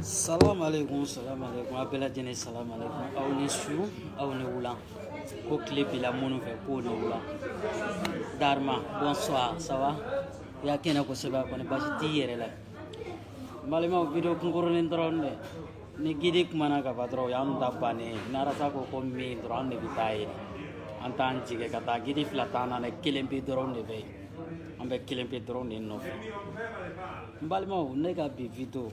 Salam alekum salam alekum a bɛɛ lajɛlen salam alekum aw ni su aw ni wula ko tile bira minnu fɛ k'o ni wula Darma bonsoir ça va i ka kɛnɛ kosɛbɛ kɔni basi t'i yɛrɛ la n balimaw video kunkurunin dɔrɔn dɛ ni gidi kumana ka ban dɔrɔn o y'an ta bannen ye narasa ko ko min dɔrɔn an de bɛ taa yen an t'an jigin ka taa gidi fila t'an na dɛ kelen pe dɔrɔn de bɛ yen an bɛ kelen pe dɔrɔn de nɔfɛ n balimaw ne ka bi video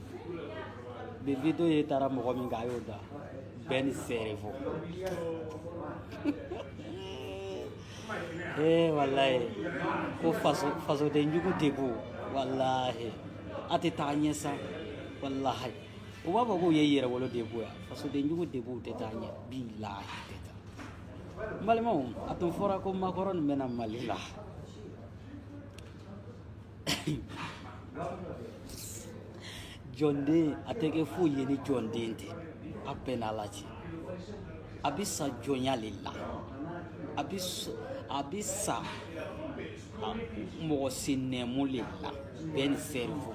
bi video ye taara mɔgɔ min kan a y'o da Ben le cerveau ee eh, walayi ko faso fasoden jugu debout walahi a tɛ taa ɲɛ sa walahi u b'a fɔ k'u ye yɛrɛwolo debout ya fasoden jugu debout tɛ taa ɲɛ bilahi tɛ taa n balimaw a tun fɔra ko Macron bɛ na mali la jɔnden a tɛ kɛ foyi ye ni jɔnden tɛ a bɛɛ n'a la cɛ a bɛ sa jɔnya le la a bɛ a bɛ sa mɔgɔ sen nɛmu le la Ben le cerveau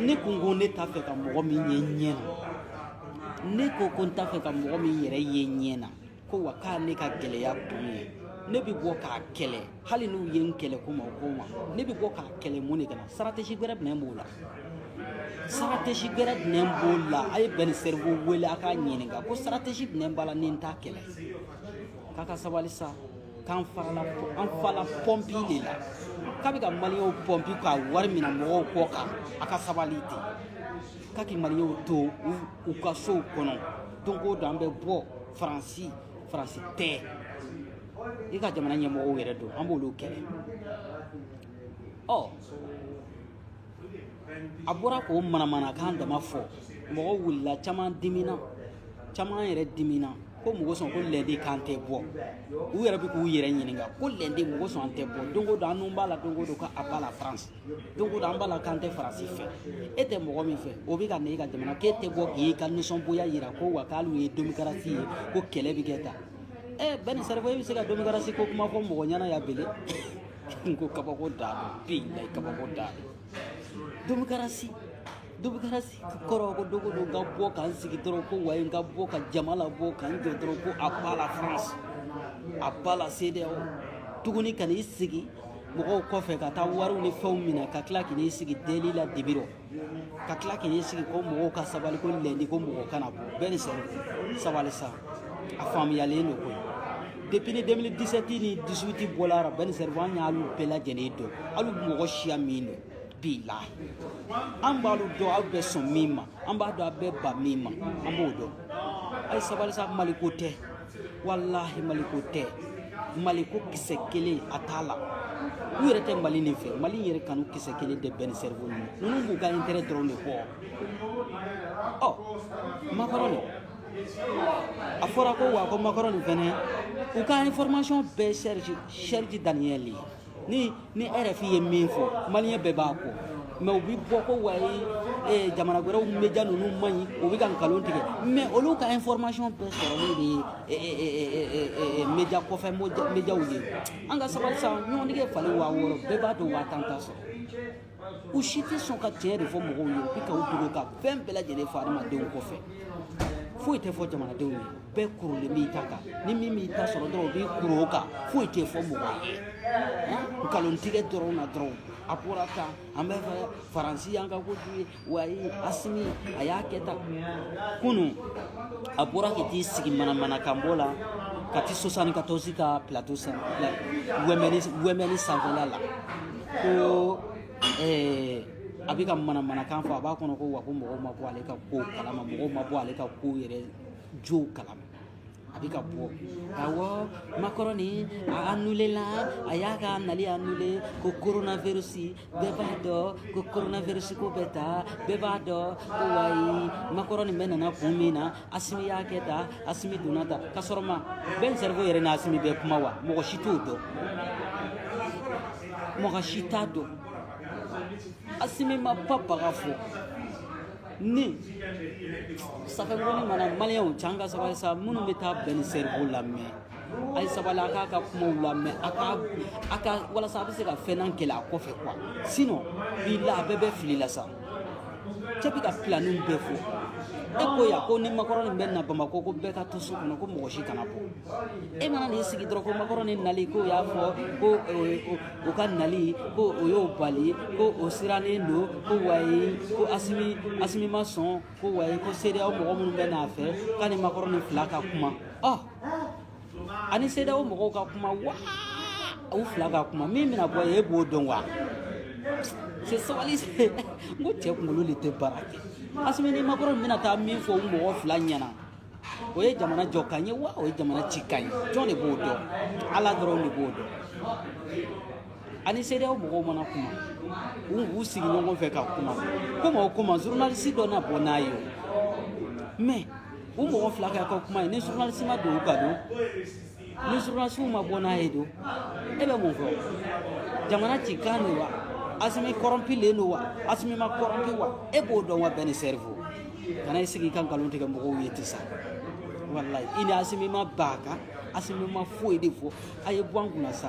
ne ko ko ne t'a fɛ ka mɔgɔ min ye ɲɛ na ne ko ko n t'a fɛ ka mɔgɔ min yɛrɛ ye ɲɛ na ko wa k'a ne ka gɛlɛya kun ye ne bɛ bɔ k'a kɛlɛ hali n'u ye n kɛlɛ ko ma o ko ma ne bɛ bɔ k'a kɛlɛ mun de kana stratégie gɛrɛ jumɛn b'o la stratégie gɛrɛ jumɛn b'o la a ye Ben le cerveau wele a k'a ɲininka ko stratégie jumɛn b'a la ni n t'a kɛlɛ k'a ka sabali sa k'an farala an fala pɔnpi le la k'a bɛ ka maliyɛnw pɔnpi ka wari minɛ mɔgɔw kɔ kan a ka sabali ten k'a k'i maliyɛnw to u ka sow kɔnɔ don o don an bɛ bɔ faransi faransi tɛ i ka jamana ɲɛmɔgɔw yɛrɛ don an b'olu kɛlɛ ɔ a bɔra k'o manamanakan dama fɔ mɔgɔ wulila caman dimina caman yɛrɛ dimina ko mɔgɔ sɔn ko lɛde kan tɛ bɔ u yɛrɛ bɛ k'u yɛrɛ ɲininka ko lɛde mɔgɔ sɔn an tɛ bɔ don o don an nun b'a la don o don k'à bas la France don o don an b'a la k'an tɛ faransi fɛ e tɛ mɔgɔ min fɛ o bɛ ka na e ka jamana k'e tɛ bɔ k'i ka nisɔngoya jira ko wa k'ale ye demokarasi ye ko kɛlɛ bɛ kɛ tan ɛ Ben le cerveau e bɛ se ka demokarasi ko kuma fɔ mɔgɔ ɲɛna yan bele n ko kabako dan don bilahi kabako dan don demokarasi demokarasi kɔrɔ ko don o don n ka bɔ ka n sigi dɔrɔn ko wayi n ka bɔ ka jama labɔ ka n jɔ dɔrɔn ko à bas la France à bas la CEDEAO tuguni ka n'i sigi mɔgɔw kɔfɛ ka taa wariw ni fɛnw minɛ ka tila ka n'i sigi deli la dibi rɔ ka tila k'i sigi ko mɔgɔw ka sabali ko lɛndi ko mɔgɔ kana bɔ ben le cerveau sabali sa a faamuyalen don koyi depuis ni 2017 ni 18 bɔla ara ben le cerveau an y'alu bɛɛ lajɛlen dɔn alu mɔgɔ siya min don bilahi an b'alu dɔn aw bɛ sɔn min ma an b'a dɔn a bɛ ban min ma an b'o dɔn a ye sabali sa maliko tɛ walahi maliko tɛ maliko kisɛ kelen a t'a la u yɛrɛ tɛ mali nin fɛ mali yɛrɛ kanu kisɛ kelen tɛ ben le cerveau ninnu ninnu b'u ka intérêt dɔrɔn de kɔ ɔ makɔrɔni a fɔra ko wa ko makɔrɔni fɛnɛ u ka information bɛɛ serge serge daniel ni ni rfi ye min fɔ maliyɛn bɛɛ b'a kɔ mais u bɛ bɔ ko wayi jamana wɛrɛw media ninnu man ɲi u bɛ ka nkalon tigɛ mais olu ka information bɛɛ sɔrɔlen de ye media kɔfɛ mediaw ye an ka sabali sa ɲɔgɔndige falen waa wɔɔrɔ bɛɛ b'a dɔn waa tan t'a sɔrɔ u si tɛ sɔn ka tiɲɛ de fɔ mɔgɔw ye u bɛ ka u dogo ka fɛn bɛɛ lajɛlen fɔ adamadenw kɔfɛ foyi tɛ fɔ jamanadenw ye bɛɛ korolen b'i ta kan ni min b'i ta sɔrɔ dɔrɔn u b'i koro o kan foyi tɛ fɔ mɔgɔ ye nkalon tigɛ dɔrɔn na dɔrɔn a bɔra tan an bɛ fɛ faransi y'an ka ko ye wayi asimi a y'a kɛ tan kunu a bɔra ka t'i sigi manamanakanbɔ la ka ti sosanni ka tɔsi ka plateau sanfɛ wɛmɛni wɛmɛni sanfɛla la ko eh, a bɛ ka manamanakan fɔ a b'a kɔnɔ ko wa ko mɔgɔw ma bɔ ale ka ko kalama mɔgɔw ma bɔ ale ka ko yɛrɛ jow kalama a bɛ ka bɔ awɔ makɔrɔni a anulela a y'a ka nali anule ko coronavirus bɛɛ b'a dɔn ko coronavirus ko bɛ ta bɛɛ b'a dɔn ko wayi makɔrɔni bɛna na kun min na asimi y'a kɛ tan asimi donna tan ka sɔrɔ ma ben cerveau yɛrɛ ni asimi bɛ kuma wa mɔgɔ si t'o dɔn mɔgɔ si t'a dɔn asimi ma ba baga fɔ ni safɛnkɔni mana maliyɛnw can ka sabali sa minnu bɛ taa ben le cerveau lamɛn a ye sabali a k'a ka kumaw lamɛn a ka a ka walasa a bɛ se ka fɛnnan kɛlɛ a kɔfɛ ko wa sinon bi la a bɛɛ bɛ fili la sa cɛ bɛ ka pilaniw bɛɛ fɔ e ko yan ko ni makɔrɔni bɛ na bamakɔ ko bɛɛ ka to so kɔnɔ ko mɔgɔ si kana bɔ e mana n'i sigi dɔrɔn ko makɔrɔni nali ko y'a fɔ ko o ka nali ko o y'o bali ko o sirannen don ko wayi ko asimi asimi ma sɔn ko wayi ko cedeao mɔgɔ minnu bɛ n'a fɛ k'a ni makɔrɔni fila ka kuma ɔ ani sedeyawo mɔgɔw ka kuma wa u fila ka kuma min bɛna bɔ e b'o dɔn wa se sabali se n ko cɛ kunkolo de tɛ baara kɛ asimi ni makɔrɔn min bɛna taa min fɔ u mɔgɔ fila ɲɛna o ye jamana jɔ kan ye wa o ye jamana ci kan ye jɔn de b'o dɔn ala dɔrɔn de b'o dɔn ani sedeyawo mɔgɔw mana kuma u b'u sigi ɲɔgɔn fɛ ka kuma komi o koma zurunalisi dɔ na bɔ n'a ye o mɛ u mɔgɔ fila kɛ ka kuma ye ni journaliste ma don u ka don ni journaliste ma bɔ n'a ye don e bɛ mun fɔ jamana ci kan don wa asimi kɔrɔnpilen don wa asimi ma kɔrɔnpi wa e b'o dɔn wa bɛn le cerveau kana i sigi i ka nkalon tigɛ mɔgɔw ye ti sa walayi i ni asimi ma b'a kan asimi ma foyi de fɔ a ye bɔ an kunna sa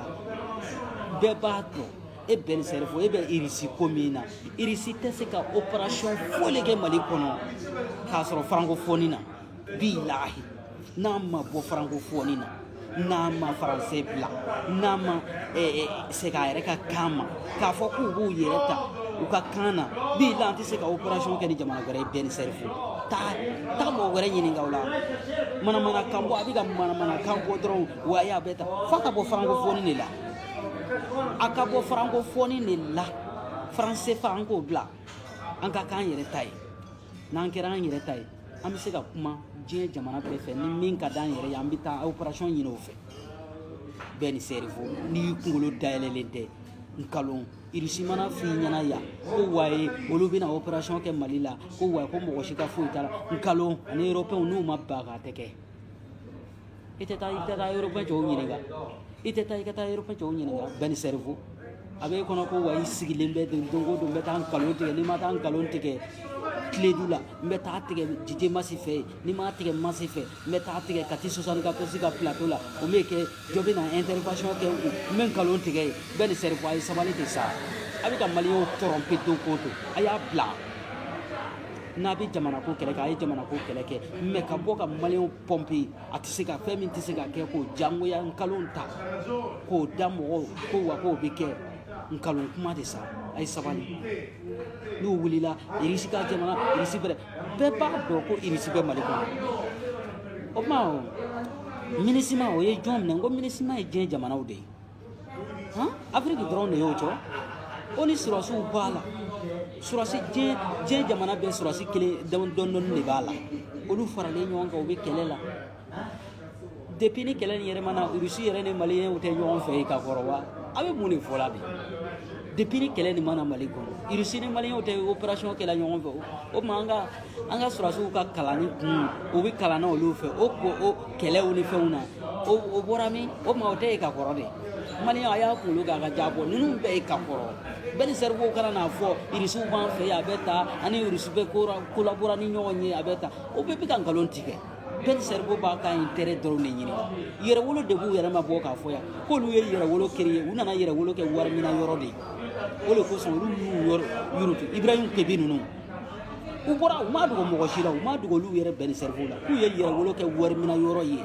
bɛɛ b'a dɔn e bɛn le cerveau e bɛ irisi ko min na irisi tɛ se ka operation foyi de kɛ mali kɔnɔ k'a sɔrɔ farankofɔni na bilahi n'a ma bɔ farankofɔni na n'a ma faransɛ bila n'a ma segin a yɛrɛ ka kan ma k'a fɔ k'u b'u yɛrɛ ta u ka kan na bilahi an tɛ se ka operation kɛ ni jamana wɛrɛ ye bɛn le cerveau taa taa mɔgɔ wɛrɛ ɲininka o la manamanakan bɔ a bɛ ka manamanakan bɔ dɔrɔn wa a bɛ ta f'a ka bɔ farankofɔni de la a ka bɔ farankofɔni de la faran sefa an k'o bila an ka k'an yɛrɛ ta ye n'an kɛra an yɛrɛ ta ye an bɛ se ka kuma diɲɛ jamana bɛɛ fɛ ni min ka d'an yɛrɛ ye an bɛ taa operation ɲini o fɛ bɛn le cerveau n'i kunkolo dayɛlɛlen tɛ nkalon irisi mana f'i ɲɛna yan ko waye olu bɛna operation kɛ mali la ko waye ko mɔgɔ si ka foyi t'a la nkalon ani europɛnw n'u ma ban k'a tɛ kɛ I tɛ taa i tɛ taa yɔrɔba cɛw ɲininka i tɛ taa i ka taa yɔrɔba cɛw ɲininka bɛn le cerveau a bɛ kɔnɔ ko wa i sigilen bɛ don don don bɛ taa nkalon tigɛ n'i ma taa nkalon tigɛ tele lu la i bɛ taa tigɛ jite masi fɛ ye n'i m'a tigɛ masi fɛ i bɛ taa tigɛ ka ti sɔsan ka kosi ka plato la o bɛ kɛ jɔ bɛ na intervention kɛ u n bɛ nkalon tigɛ ye bɛn le cerveau a ye sabali de sa a bɛ ka maliyɛnw tɔrɔnpe don ko don a y'a bila n'a bɛ jamana ko kɛlɛ kɛ a ye jamana ko kɛlɛ kɛ mɛ ka bɔ ka maliyɛnw tɔrɔnpe a tɛ se ka fɛn min tɛ se ka kɛ k'o jangoya nkalon ta k'o da mɔgɔw ko wa k'o bɛ kɛ nkalon kuma de sa a ye sabali n'u wulila irisi ka jamana irisi bɛrɛ bɛɛ b'a dɔn ko irisi bɛ mali kɔnɔ o tuma minisima o ye jɔn minɛ n ko minisima ye diɲɛ jamanaw de ye afiriki dɔrɔn de y'o jɔ oni sɔrasiw b'a la sɔrasi diɲɛ diɲɛ jamana bɛɛ sɔrasi kelen dɔɔni dɔɔni de b'a la olu faralen ɲɔgɔn kan u bɛ kɛlɛ la depuis ni kɛlɛ nin yɛrɛ ma na rusi yɛrɛ ni maliyɛnw tɛ ɲɔgɔn fɛ ka kɔrɔ wa a bɛ mun de fɔ la bi depuis ni kɛlɛ nin ma na mali kɔnɔ rusi ni maliyɛnw tɛ opération kɛla ɲɔgɔn fɛ o tuma an ka an ka sɔrɔdasiw ka kalanni kun u bɛ kalan na olu fɛ o ko o kɛlɛw ni fɛnw na o o bɔra min o tuma o tɛ ye ka kɔrɔ de maliyɛnw a y'a kunkolo k'a ka jaa bɔ ninnu bɛɛ ye ka kɔrɔ ben le cerveau ka na n'a fɔ irisiw b'an fɛ yen a bɛ taa ani irisi bɛ kolabore ni ɲɔgɔn ye a bɛ ta o bɛɛ bɛ ka nkalon tigɛ ben le cerveau b'a ka intérêt dɔrɔn de ɲini yɛrɛwolo debout yɛrɛ ma bɔ k'a fɔ yan k'olu ye yɛrɛwolo créer u nana yɛrɛwolo kɛ wari minɛ yɔrɔ de ye o de kosɔn olu y'u yɔrɔ yuruguyurugu ibrahim kebe ninnu u bɔra u ma dogo mɔgɔ si la u ma dogo olu yɛrɛ ben le cerveau la k'u ye yɛrɛwolo kɛ wari minɛ yɔrɔ ye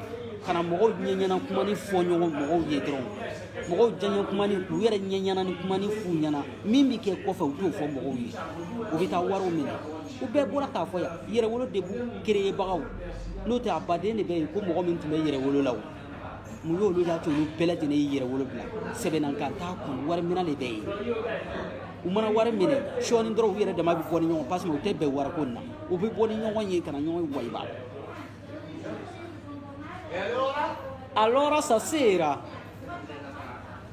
ka na mɔgɔw ɲɛ ɲɛna kuma ni fɔ ɲɔgɔn mɔgɔw ye dɔrɔn mɔgɔw diyanye kumanin u yɛrɛ ɲɛ ɲɛna ni kuma ni f'u ɲɛna min bɛ kɛ kɔfɛ u t'o fɔ mɔgɔw ye u bɛ taa wariw minɛ u bɛɛ bɔra k'a fɔ yan yɛrɛwolo debout kereyebagaw n'o tɛ a baden de bɛ yen ko mɔgɔ min tun bɛ yɛrɛwolo la o mun y'olu y'a to olu bɛɛ lajɛlen ye yɛrɛwolo bila sɛbɛnna ka taa kun wari minɛ de bɛ yen u mana wari minɛ sɔɔni dɔrɔn u yɛrɛ dama bɛ bɔ ni ɲɔgɔn parce que u tɛ bɛn wari ko in na u bɛ bɔ ni ɲɔgɔn ye ka na ɲɔgɔn wayiba allora stasera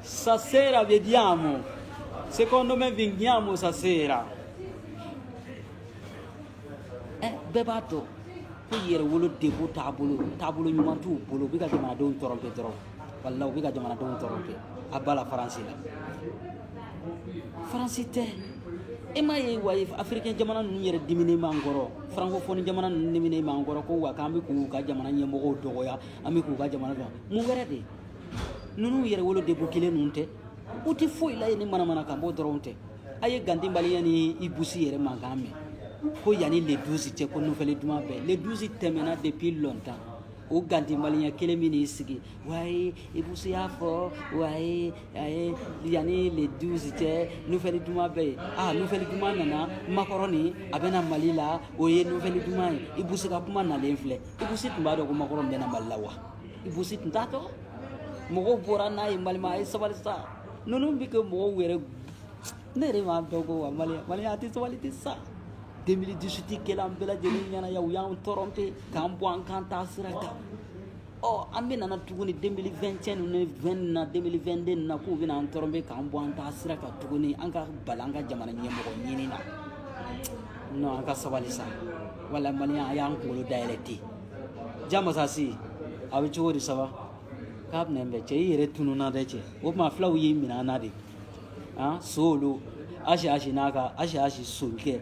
stasera vediamo secondo me veniamo stasera bɛɛ b'a dɔn ko yɛrɛwolo debout taabolo taabolo ɲuman t'u bolo u bɛ ka jamanadenw tromper dɔrɔn wala u bɛ ka jamanadenw tromper à bas la france la france tɛ e m'a ye wa afirikɛn jamana ninnu yɛrɛ diminen b'an kɔrɔ farankofɔni jamana ninnu diminen b'an kɔrɔ ko wa k'an bɛ k'u ka jamana ɲɛmɔgɔw dɔgɔya an bɛ k'u ka jamana dɔn mun wɛrɛ de ninnu yɛrɛwolo debout kelen ninnu tɛ u tɛ foyi la ye ni manamanakan bɔ dɔrɔn tɛ a ye gandhi malien ni ibou sy yɛrɛ mankan mɛn ko yanni le 12 cɛ ko nouvelle duman bɛ le 12 tɛmɛna depuis longtemps o gandhi malien kelen min n'i sigi wayi ibou sy y'a fɔ wayi a ye yanni le 12 cɛ nouvelle duman bɛ yen a nouvelle duman nana makɔrɔn nin a bɛna mali la o ye nouvelle duman ye ibou sy ka kuma nalen filɛ ibou sy tun b'a dɔn ko makɔrɔn bɛna mali la wa ibou sy tun t'a dɔn mɔgɔw bɔra n'a ye maliyɛnw a ye sabali sa ninnu bɛ kɛ mɔgɔw yɛrɛ ne yɛrɛ m'a dɔn ko wa maliyɛnw maliyɛnw a tɛ sabali ten sa 2018 kɛla an bɛɛ lajɛlen ɲɛna yan u y'an tromper k'an bɔ an ka taasira kan ɔ an bɛ nana tuguni 2021 ninnu ni 20 na 2022 na k'u bɛna an tromper k'an bɔ an taasira kan tuguni an ka bali an ka jamana ɲɛmɔgɔ ɲini na non an ka sabali sa wala maliyɛnw a y'a kunkolo dayɛlɛ ten ja masasi a bɛ cogo di ça va k'a bɛna bɛn cɛ i yɛrɛ tununa dɛ cɛ o tuma fulaw y'i minɛ an na dɛ han so olu asi asi n'a ka asi asi sonkɛ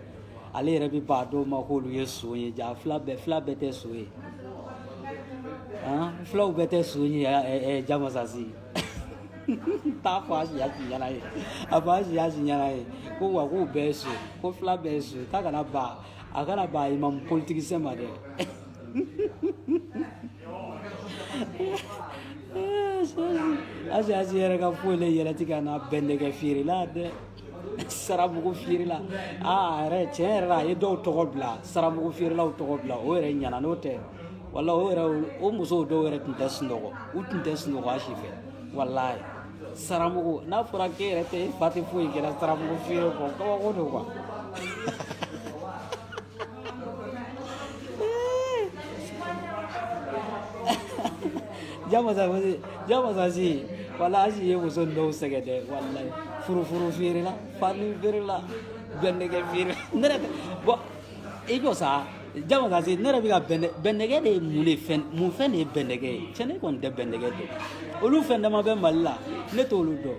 ale yɛrɛ bɛ ban a dɔw ma k'olu ye son ye ja fila bɛɛ fila bɛɛ tɛ son ye han fulaw bɛɛ tɛ son ye ɛ ɛ jamasasi t'a fɔ asi asi ɲɛna ye a fɔ asi asi ɲɛna ye ko wa k'u bɛɛ ye son ko fila bɛɛ ye son k'a kana ban a kana ban imamu politisiyɛn ma dɛ Asi asi yɛrɛ ka foyi la yɛlɛtigɛ n'a bɛnnɛgɛ feere la dɛ saramugu feere la aa yɛrɛ tiɲɛ yɛrɛ la a ye dɔw tɔgɔ bila saramugu feerelaw tɔgɔ bila o yɛrɛ ɲana n'o tɛ wala o yɛrɛ o musow dɔw yɛrɛ tun tɛ sunɔgɔ u tun tɛ sunɔgɔ asi fɛ walayi saramugu n'a fɔra k'e yɛrɛ tɛ e fa tɛ foyi kɛra saramugu feere kɔ kabako don quoi ja masa masa ja masa si wala asi ye muso dɔw sɛgɛn dɛ wala furufuru feerela fani feerela bɛnnɛgɛ feerela ne yɛrɛ tɛ bɔn i ko sa ja masa si ne yɛrɛ bɛ ka bɛnnɛ bɛnnɛgɛ de ye mun de fɛn mun fɛn de ye bɛnnɛgɛ ye cɛ ne kɔni tɛ bɛnnɛgɛ dɔn olu fɛn dama bɛ mali la ne t'olu dɔn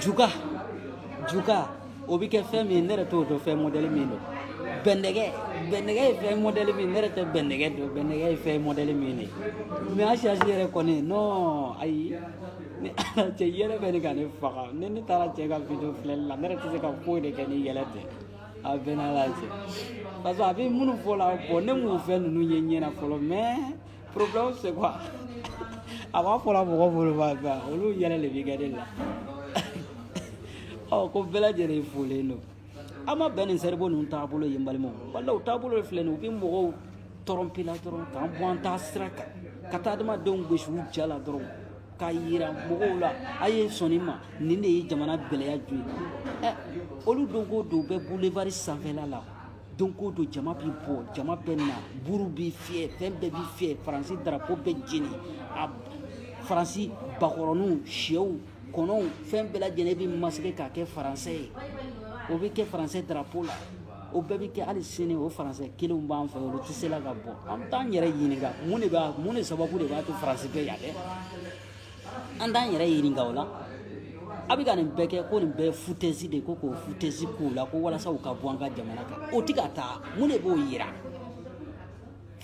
juga juga o bɛ kɛ fɛn min ye ne yɛrɛ t'o dɔn fɛn mɔdɛli min don bɛnɛgɛ bɛnɛgɛ ye fɛn mɔdɛli min ne yɛrɛ tɛ bɛnɛgɛ dɔn bɛnɛgɛ ye fɛn mɔdɛli min ye mɛ asi asi yɛrɛ kɔni non ayi ni ala cɛ yɛlɛ bɛ ɲini ka ne faga ni ne taara cɛ ka video filɛli la ne yɛrɛ tɛ se ka foyi de kɛ ni yɛlɛ tɛ a bɛnna la cɛ parce que a bɛ minnu fɔ la bɔn ne m'o fɛn ninnu ye ɲɛ na fɔlɔ mɛ Problème c'est a b'a fɔla mɔgɔ bolo olu yɛrɛ de bɛ gari la ɔ ko bɛɛ lajɛlen folen don an ma bɛn ni seri ninnu taabolo ye n balimaw wala u taabolo de filɛ u bɛ mɔgɔw tɔrɔnpe la dɔrɔn k'an bɔ an taa sira kan ka taa adamadenw gosi u ja la dɔrɔn k'a jira mɔgɔw la a ye sɔnni ma nin de ye jamana gɛlɛya ju ye ɛ olu don ko don bɛ bulebari sanfɛla la don ko don jama bɛ bɔ jama bɛ na buru bɛ fiyɛ fɛn bɛɛ bɛ fiyɛ faransi darapo bɛ jeni a faransi bakɔrɔninw shɛw kɔnɔw fɛn bɛɛ lajɛlen bɛ masike k'a kɛ faransɛ ye o bɛ kɛ faransɛ darapo la o bɛɛ bɛ kɛ hali sini o faransɛ kelenw b'an fɛ olu tɛ se la ka bɔ an t'an yɛrɛ ɲininka mun de b'a mun de sababu de b'a to faransi bɛ yan dɛ an t'an yɛrɛ ɲininka o la a bɛ ka nin bɛɛ kɛ ko nin bɛɛ futɛsi de ko k'o futɛsi k'u la ko walasa u ka bɔ an ka jamana kan u tɛ ka taa mun de b'o yira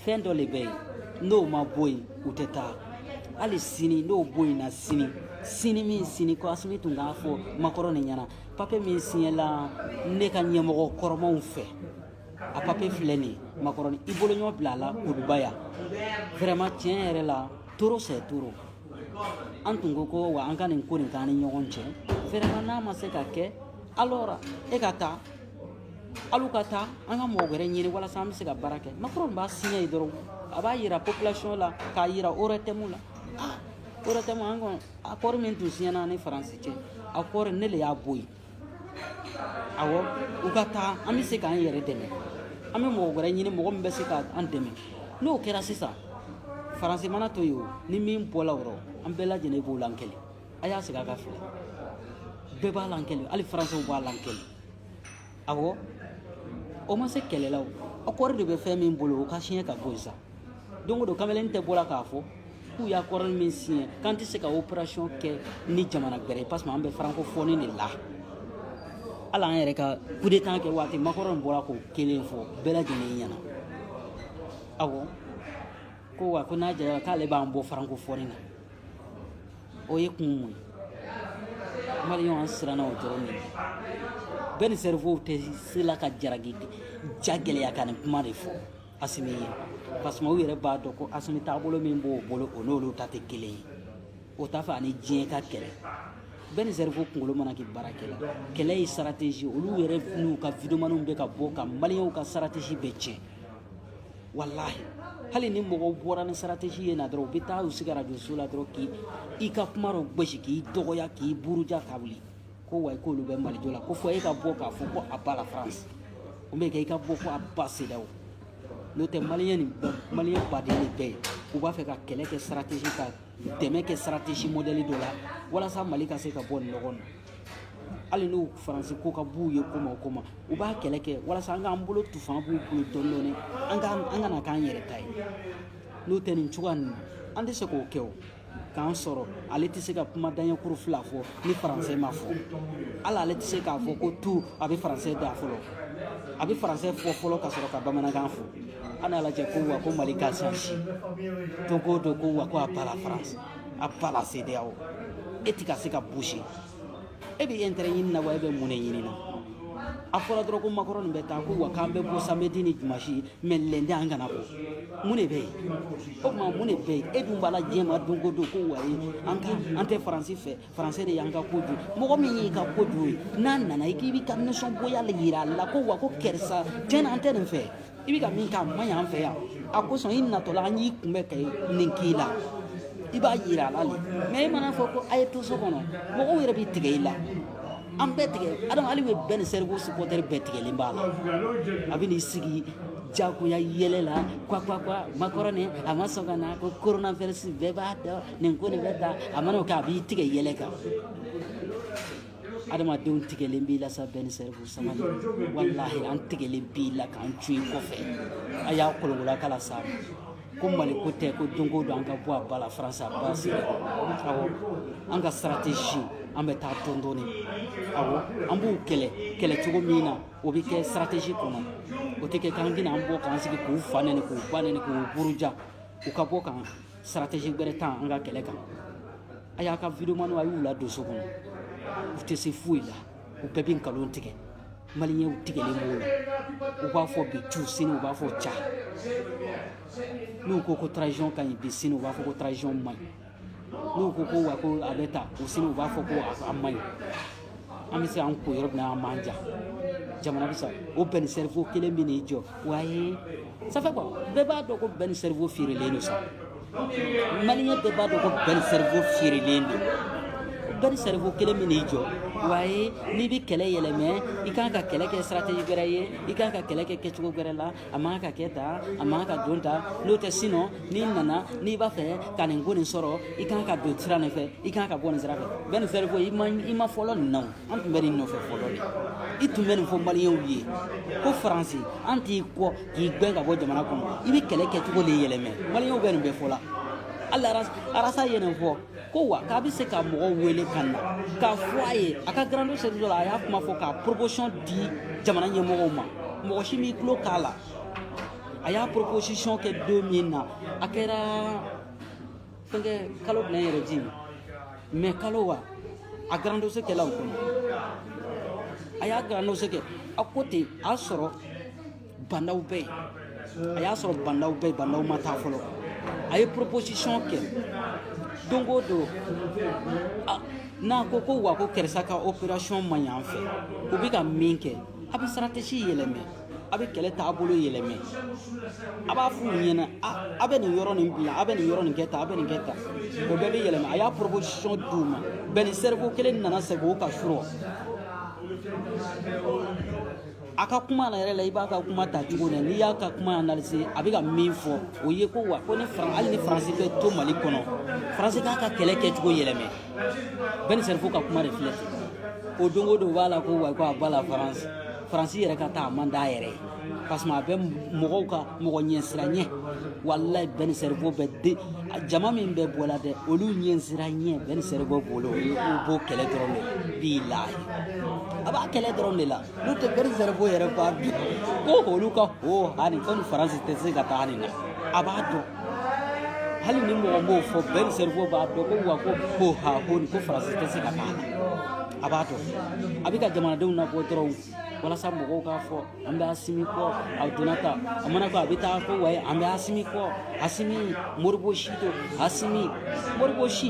fɛn dɔ de bɛ yen n'o ma bɔ yen u tɛ taa hali sini n'o bɔ yen na sini sini min sini ko asimi tun k'a fɔ makɔrɔni ɲɛna papiye min siɲɛla ne ka ɲɛmɔgɔ kɔrɔmaw fɛ a papiye filɛ nin ye makɔrɔni i boloɲɔ bila a la kuluba yan vraiment tiɲɛ yɛrɛ la trop c'est trop an tun ko ko wa an ka nin ko nin k'an ni ɲɔgɔn cɛ vraiment n'a ma se ka kɛ alors e ka taa alu ka taa an ka mɔgɔ wɛrɛ ɲini walasa an bɛ se ka baara kɛ macron b'a siɲɛ ye dɔrɔn a b'a yira population la k'a yira ORTM la ORTM an kɔni akɔri min tun siɲɛna ni faransi cɛ akɔri ne le y'a bɔ yen Awɔ u ka taa an bɛ se k'an yɛrɛ dɛmɛ an bɛ mɔgɔ wɛrɛ ɲini mɔgɔ min bɛ se k' an dɛmɛ n'o kɛra sisan faransi mana to yen o ni min bɔla o rɔ an bɛɛ lajɛlen b'o lakɛlɛ a y'a sigi a k'a filɛ bɛɛ b'a lakɛlɛ hali faransɛw b'a lakɛlɛ awɔ o ma se kɛlɛlaw akɔri de bɛ fɛn min bolo o ka siɲɛ ka bɔ sisan don o don kamalen tɛ bɔla k'a fɔ k'u y'akɔri min siɲɛ k'an tɛ se ka operation kɛ ni jamana gɛrɛ ye parce que an bɛ francophonie de la hali an yɛrɛ ka coup d'état kɛ waati Macron bɔra k'o kelen fɔ bɛɛ lajɛlen ɲɛna awɔ ko wa ko n'a jɛra k'ale b'an bɔ francophonie na o ye kun mun ye maliyɛnw an siranna o dɔrɔn de bɛɛ ni cerveau tɛ se la ka jaragi ja gɛlɛya ka nin kuma de fɔ asimi ye parce que u yɛrɛ b'a dɔn ko asimi taabolo min b'o bolo o n'olu ta tɛ kelen ye o t'a fɛ ani diɲɛ ka kɛlɛ bɛɛ ni cerveau kunkolo mana kɛ baara kɛla kɛlɛ ye stratégie olu yɛrɛ n'u ka videomaniw bɛ ka bɔ ka maliyɛnw ka stratégie bɛɛ tiɲɛ walahi hali ni mɔgɔw bɔra ni stratégie ye na dɔrɔn u bɛ taa u sigi arajoso la dɔrɔn k'i i ka kuma dɔ gosi k'i dɔgɔya k'i buruja ka wuli ko wa k'olu bɛ mali jɔ la ko fɔ e ka bɔ k'a fɔ ko à bas la france o bɛ kɛ i ka bɔ ko à bas CEDEAO n'o tɛ maliyɛn nin maliyɛn baden de bɛɛ ye u b'a fɛ ka kɛlɛ kɛ stratégie ka dɛmɛ kɛ stratégie modèle dɔ la walasa mali ka se ka bɔ nin nɔgɔ na hali n'u faransi ko ka b'u ye koma o koma u b'a kɛlɛ kɛ walasa an k'an bolo tu fanga b'u bolo dɔɔni dɔɔni an ka a ka na k'an yɛrɛ ta ye n'o tɛ nin cogoya ninnu an tɛ se k'o kɛ o k'an sɔrɔ ale tɛ se ka kuma daɲɛkuru fila fɔ ni faransɛ ma fɔ hali ale tɛ se k'a fɔ ko tu a bɛ faransɛ da fɔlɔ a bɛ faransɛ fɔ fɔlɔ ka sɔrɔ ka bamanankan fɔ an y'a lajɛ ko wa ko mali ka sansi don o don ko wa ko à bas la france à bas la CEDEAO e ti ka se ka bouger e bɛ intérêt ɲini na wa e bɛ mun de ɲini na a fɔra dɔrɔn ko macron de bɛ taa ko wa k'an bɛ bɔ samedi ni dimanche mais lundi an kana bɔ mun de bɛ yen o tuma mun de bɛ yen e dun b'a la diɲɛ ma don o don ko wayi an ka an tɛ faransi fɛ faransi de y'an ka ko dun mɔgɔ min y'i ka ko dun ye n'a nana i k'i b'i ka nisɔngoya jira a la ko wa ko karisa tiɲɛ na an tɛ nin fɛ i bɛ ka min k'a man ɲi an fɛ yan a kosɔn i natɔla an y'i kunbɛ ka nin k'i la i b'a yira ala le ma i mana fɔ ko a ye to so kɔnɔ mɔgɔw yɛrɛ bɛ tigɛ i la an bɛɛ tigɛ adama hali bi ben le cerveau supɔtɛri bɛɛ tigɛlen b'a la a bɛ n'i sigi jagoya yɛlɛ la kwa kwa kwa makɔrɔ nin a ma sɔn ka na ko coronavirus bɛɛ b'a dɔn nin ko nin bɛ ta a mana o kɛ a b'i tigɛ yɛlɛ kan adamadenw tigɛlen b'i la sa ben le cerveau sama walahi an tigɛlen b'i la k'an jɔ i kɔfɛ a y'a kolokola kala sa ko mali ko tɛ ko dunko don an ka bɔ à bas la france à bas sigi awɔ an ka stratégie an bɛ taa dɔɔni dɔɔni awɔ an b'u kɛlɛ kɛlɛ cogo min na o bɛ kɛ stratégie kɔnɔ o tɛ kɛ k'an tɛna an bɔ k'an sigi k'u fa nɛni k'u ba nɛni k'u buruja u ka bɔ kan stratégie wɛrɛ ta an ka kɛlɛ kan a y'a ka videomaniw a y'u ladon so kɔnɔ u tɛ se foyi la u bɛɛ bɛ nkalon tigɛ maliyɛnw tigɛlen b'u la u b'a fɔ bi cu sini u b'a fɔ ca n'u ko ko transition ka ɲi bi sini u b'a fɔ ko transition man ɲi n'u ko ko wa ko a bɛ ta u sini u b'a fɔ ko a man ɲi an bɛ se an ko yɔrɔ min na an b'an ja jamana bɛ sa o ben le cerveau kelen bɛ n'i jɔ wa ye sanfɛ quoi bɛɛ b'a dɔn ko ben le cerveau feerelen don sa maliyɛn bɛɛ b'a dɔn ko ben le cerveau feerelen don ben le cerveau kelen bɛ n'i jɔ wa ye n'i bɛ kɛlɛ yɛlɛmɛ i kan ka kɛlɛ kɛ stratégie wɛrɛ ye i kan ka kɛlɛ kɛ kɛcogo wɛrɛ la a man kan ka kɛ tan a man kan ka don tan n'o tɛ sinon n'i nana n'i b'a fɛ ka nin ko nin sɔrɔ i kan ka don sira nin fɛ i kan ka bɔ nin sira fɛ bɛɛ nin fɛrɛ ko i ma i ma fɔlɔ nin na o an tun bɛ nin nɔfɛ fɔlɔ de i tun bɛ nin fɔ maliyɛnw ye ko faransi an t'i kɔ k'i gɛn ka bɔ jamana kɔnɔ i bɛ kɛlɛ kɛcogo de yɛlɛmɛ maliyɛnw bɛ nin bɛɛ fɔ la hali rasta ye nin fɔ ko wa k'a bɛ se ka mɔgɔw wele ka na k'a fɔ a ye a ka grand dossier dɔ la a y'a kuma fɔ k'a proposition di jamana ɲɛmɔgɔw ma mɔgɔ si m'i tulo k'a la a y'a proposition kɛ don min na a kɛra fɛnkɛ kalo bila yɛrɛ ji mɛ kalo wa a grand dossier kɛla o kɔnɔ a y'a grand dossier kɛ a ko ten a sɔrɔ bandaw bɛ yen a y'a sɔrɔ bandaw bɛ yi bandaw ma taa fɔlɔ a ye proposition kɛ don o don n'a ko ko wa ko karisa ka opération man ɲi an fɛ u bɛ ka min kɛ a bɛ stratégie yɛlɛmɛ a bɛ kɛlɛ taabolo yɛlɛmɛ a b'a f'u ɲɛna a bɛ nin yɔrɔ nin bila a bɛ nin yɔrɔ nin kɛ tan a bɛ nin kɛ tan o bɛɛ bɛ yɛlɛmɛ a y'a proposition d'u ma ben le cerveau kelen nana segin o kan surɔ A ka kuma na yɛrɛ la i b'a ka kuma ta cogo na n'i y'a ka kuma na se a bɛ ka min fɔ o ye ko wa ko ni hali ni faransi bɛ to mali kɔnɔ faransi k'a ka kɛlɛ kɛ cogo yɛlɛma Ben le Cerveau ka kuma de filɛ o don o don b'a la ko wa ko a b'a la faransi faransi yɛrɛ ka taa a man d'a yɛrɛ ye parce que a bɛ mɔgɔw ka mɔgɔ ɲɛsiranɲɛ wala Ben le Cerveau bɛ de jama min bɛ bɔ la dɛ olu ɲɛsiranɲɛ Ben le Cerveau bolo u b'o kɛlɛ dɔrɔn de bilahi a b'a kɛlɛ dɔrɔn de la n'o tɛ Ben le Cerveau yɛrɛ b'a dɔn ko olu ka ho hani ko ni faransi tɛ se ka taa nin na a b'a dɔn hali ni mɔgɔ m'o fɔ Ben le Cerveau b'a dɔn ko wa ko ho ha ho ni ko faransi tɛ se ka taa na a b'a dɔn a bɛ ka jamanadenw nabɔ dɔrɔn walasa mɔgɔw k'a fɔ an bɛ asimi kɔ a donna ta a mana ko a bɛ taa ko wayi an bɛ asimi kɔ asimi moribo si to asimi moribo si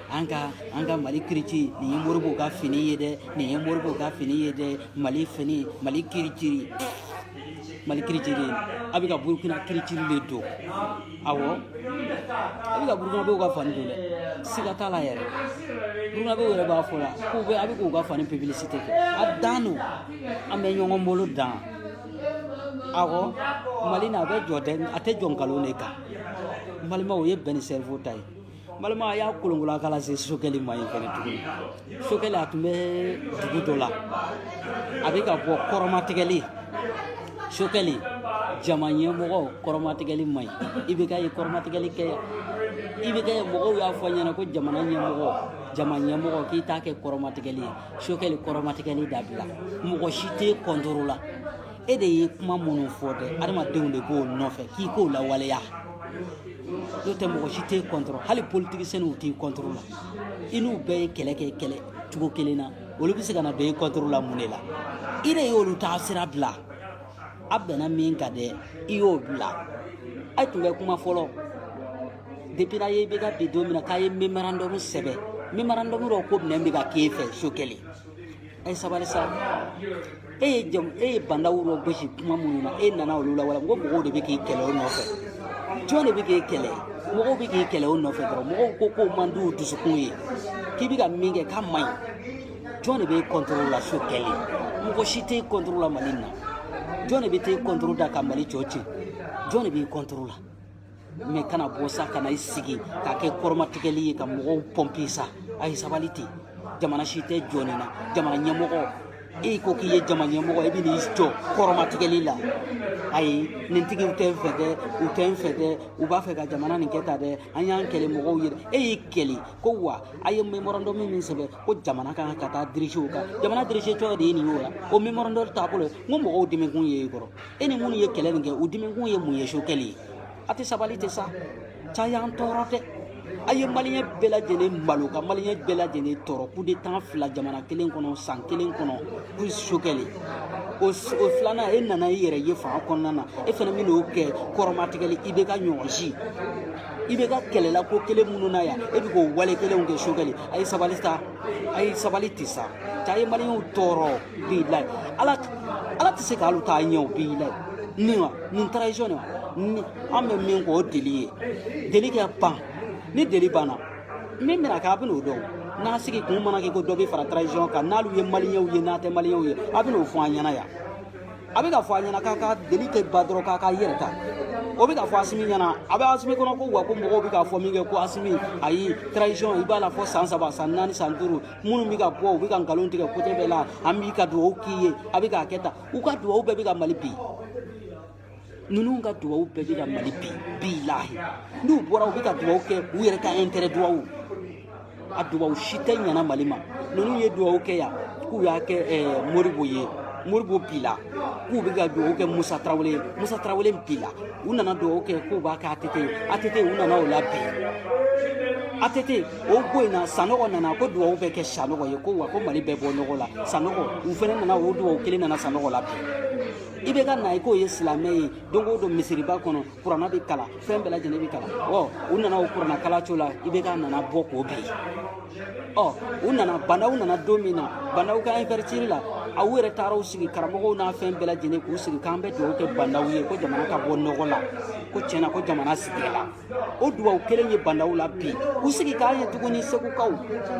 an ka an ka mali kiritiri nin ye moribo ka fini ye dɛ nin ye moribo ka fini ye dɛ mali fini mali kiritiri mali kiritiri a bɛ ka burukina kiritiri de don awɔ a bɛ ka burukinabew ka fani don dɛ siga t'a la yɛrɛ burukinabew yɛrɛ b'a fɔ la k'u bɛ a bɛ k'u ka fani pibilisite kɛ a dan don an bɛ ɲɔgɔn bolo dan awɔ mali na a bɛ jɔ dɛ a tɛ jɔ nkalon de kan balimaw o ye Ben le Cerveau ta ye balima a y'a kolonkolon k'a lase sokɛli ma yen fɛnɛ tuguni sokɛli a tun bɛ dugu dɔ la a bɛ ka bɔ kɔrɔmatigɛli sokɛli jama ɲɛmɔgɔ kɔrɔmatigɛli man ɲi i bɛ ka ye kɔrɔmatigɛli kɛ i bɛ ka ye mɔgɔw y'a fɔ i ɲɛna ko jamana ɲɛmɔgɔ jama ɲɛmɔgɔ k'i t'a kɛ kɔrɔmatigɛli ye sokɛli kɔrɔmatigɛli dabila mɔgɔ si t'i kɔntoro la e de ye kuma minnu fɔ dɛ adamadenw de b'o nɔfɛ k'i k'o lawaleya n'o tɛ mɔgɔ si tɛ e kɔntɔrɔ hali politigisɛniw t'i kɔntɔrɔ la i n'u bɛɛ ye kɛlɛ kɛ kɛlɛ cogo kelen na olu bɛ se ka na kɛ i kɔntɔrɔ la mun de la i de y'olu taasira bila a bɛnna min ka dɛ i y'o bila a tun bɛ kuma fɔlɔ depuis n'a ye i bɛ ka bi don min na k'a ye memorandum sɛbɛn memorandum dɔ ko min bɛ ka k'e fɛ sokɛli A ye sabali sa e ye jamu e ye banda wolo gosi kuma minnu na e nana olu lawaleya ko mɔgɔw de bɛ k'i kɛlɛ o nɔfɛ jɔn de bɛ k'i kɛlɛ mɔgɔw bɛ k'i kɛlɛ o nɔfɛ dɔrɔn mɔgɔw ko k'o man di u dusukun ye k'i bɛ ka min kɛ k'a man ɲi jɔn de b'i kɔntoro la sokɛli mɔgɔ si t'i kɔntoro la mali in na jɔn de bɛ t'i kɔntoro da ka mali jɔ to yen jɔn de b'i kɔntoro la mɛ kana bɔ sa kana i sigi k'a kɛ kɔrɔmatigɛli ye ka mɔgɔw pɔnpe sa a ye sabali ten jamana si tɛ jɔ nin na jamana ɲɛmɔgɔ e ko k'i ye jama ɲɛmɔgɔ i bɛ n'i jɔ kɔrɔmatigɛli la ayi nin tigiw tɛ n fɛ dɛ u tɛ n fɛ dɛ u b'a fɛ ka jamana nin kɛ ta dɛ an y'an kɛlɛ mɔgɔw ye e y'i kɛlɛ ko wa a ye memorandum min sɛbɛn ko jamana ka kan ka taa dirigew kan jamana dirigetɔ de ye nin ye o la o memorandum taabolo n ko mɔgɔw dimikun ye i kɔrɔ e ni minnu ye kɛlɛ nin kɛ u dimikun ye mun ye sokɛli a tɛ sabali ten sa cɛ a y'an tɔɔrɔ dɛ a ye maliyɛn bɛɛ lajɛlen malo ka maliyɛn bɛɛ lajɛlen tɔɔrɔ kudeta fila jamana kelen kɔnɔ san kelen kɔnɔ ko sokɛli o o filanan e nana i yɛrɛ ye fanga kɔnɔna na e fana bɛ n'o kɛ kɔrɔmatigɛli i bɛ ka ɲɔgɔn si ibeka kɛlɛla ko kelen minnu na yan e bɛ k'o wale kelenw kɛ sokɛli a ye a ye sabali ten sa cɛ a ye maliyɛnw tɔɔrɔ Bi la ala ala tɛ se ka taa ɲɛ bi la nin wa nin transition de wa an bɛ min ko o délai ye délai kɛ pan ni délai banna min bɛna kɛ a bɛn'o dɔn n'a sigi kun mana kɛ ko dɔ bɛ fara transition kan n'alu ye maliyɛnw ye n'a tɛ maliyɛnw ye a bɛn'o fɔ an ɲɛna yan a bɛ ka fɔ a ɲɛna k'a ka délai tɛ ban dɔrɔn k'a ka yɛrɛ ta o bɛ ka fɔ asimi ɲɛna a bɛ asimi kɔnɔ ko wa ko mɔgɔw bɛ k'a fɔ min kɛ ko asimi ayi transition i b'a la fo san saba san naani san duuru minnu bɛ ka bɔ u bɛ ka nkalon tigɛ kote bɛɛ la an bɛ ka dugawu k'i ye a bɛ k'a kɛ tan u ka dugawu bɛɛ bɛ ka mali bin ninnu ka dugawu bɛɛ bɛ ka mali bin bilahi n'u bɔra u bɛ ka dugawu kɛ u yɛrɛ ka intérêt dugawu a dugawu si tɛ ɲana mali ma ninnu ye dugawu kɛ yan k'u y'a kɛ ɛɛ modibo ye modibo binna k'u bɛ ka dugawu kɛ musa tarawele ye musa tarawele binna u nana dugawu kɛ k'u b'a kɛ atete ye atete u nana o labin atete o ko in na sanɔgɔ nana ko dugawu bɛ kɛ sanɔgɔ ye ko wa ko mali bɛ bɔ nɔgɔ la sanɔgɔ u fana nana o dugawu kelen nana sanɔgɔ labin ibeka nana k'o ye silamɛ ye don o don misiriba kɔnɔ kurana bɛ kalan fɛn bɛɛ lajɛlen bɛ kalan ɔ u nana o kurana kalan cogo la ibeka nana bɔ k'o bin ɔ u nana bandaw nana don min na bandaw ka investiture la aw yɛrɛ taara u sigi karamɔgɔw n'a fɛn bɛɛ lajɛlen k'u sigi k'an bɛ dugawu kɛ bandaw ye ko jamana ka bɔ nɔgɔ la ko tiɲɛ na ko jamana sigila o dubaw kelen ye bandaw labin u sigi k'an ye tuguni segukaw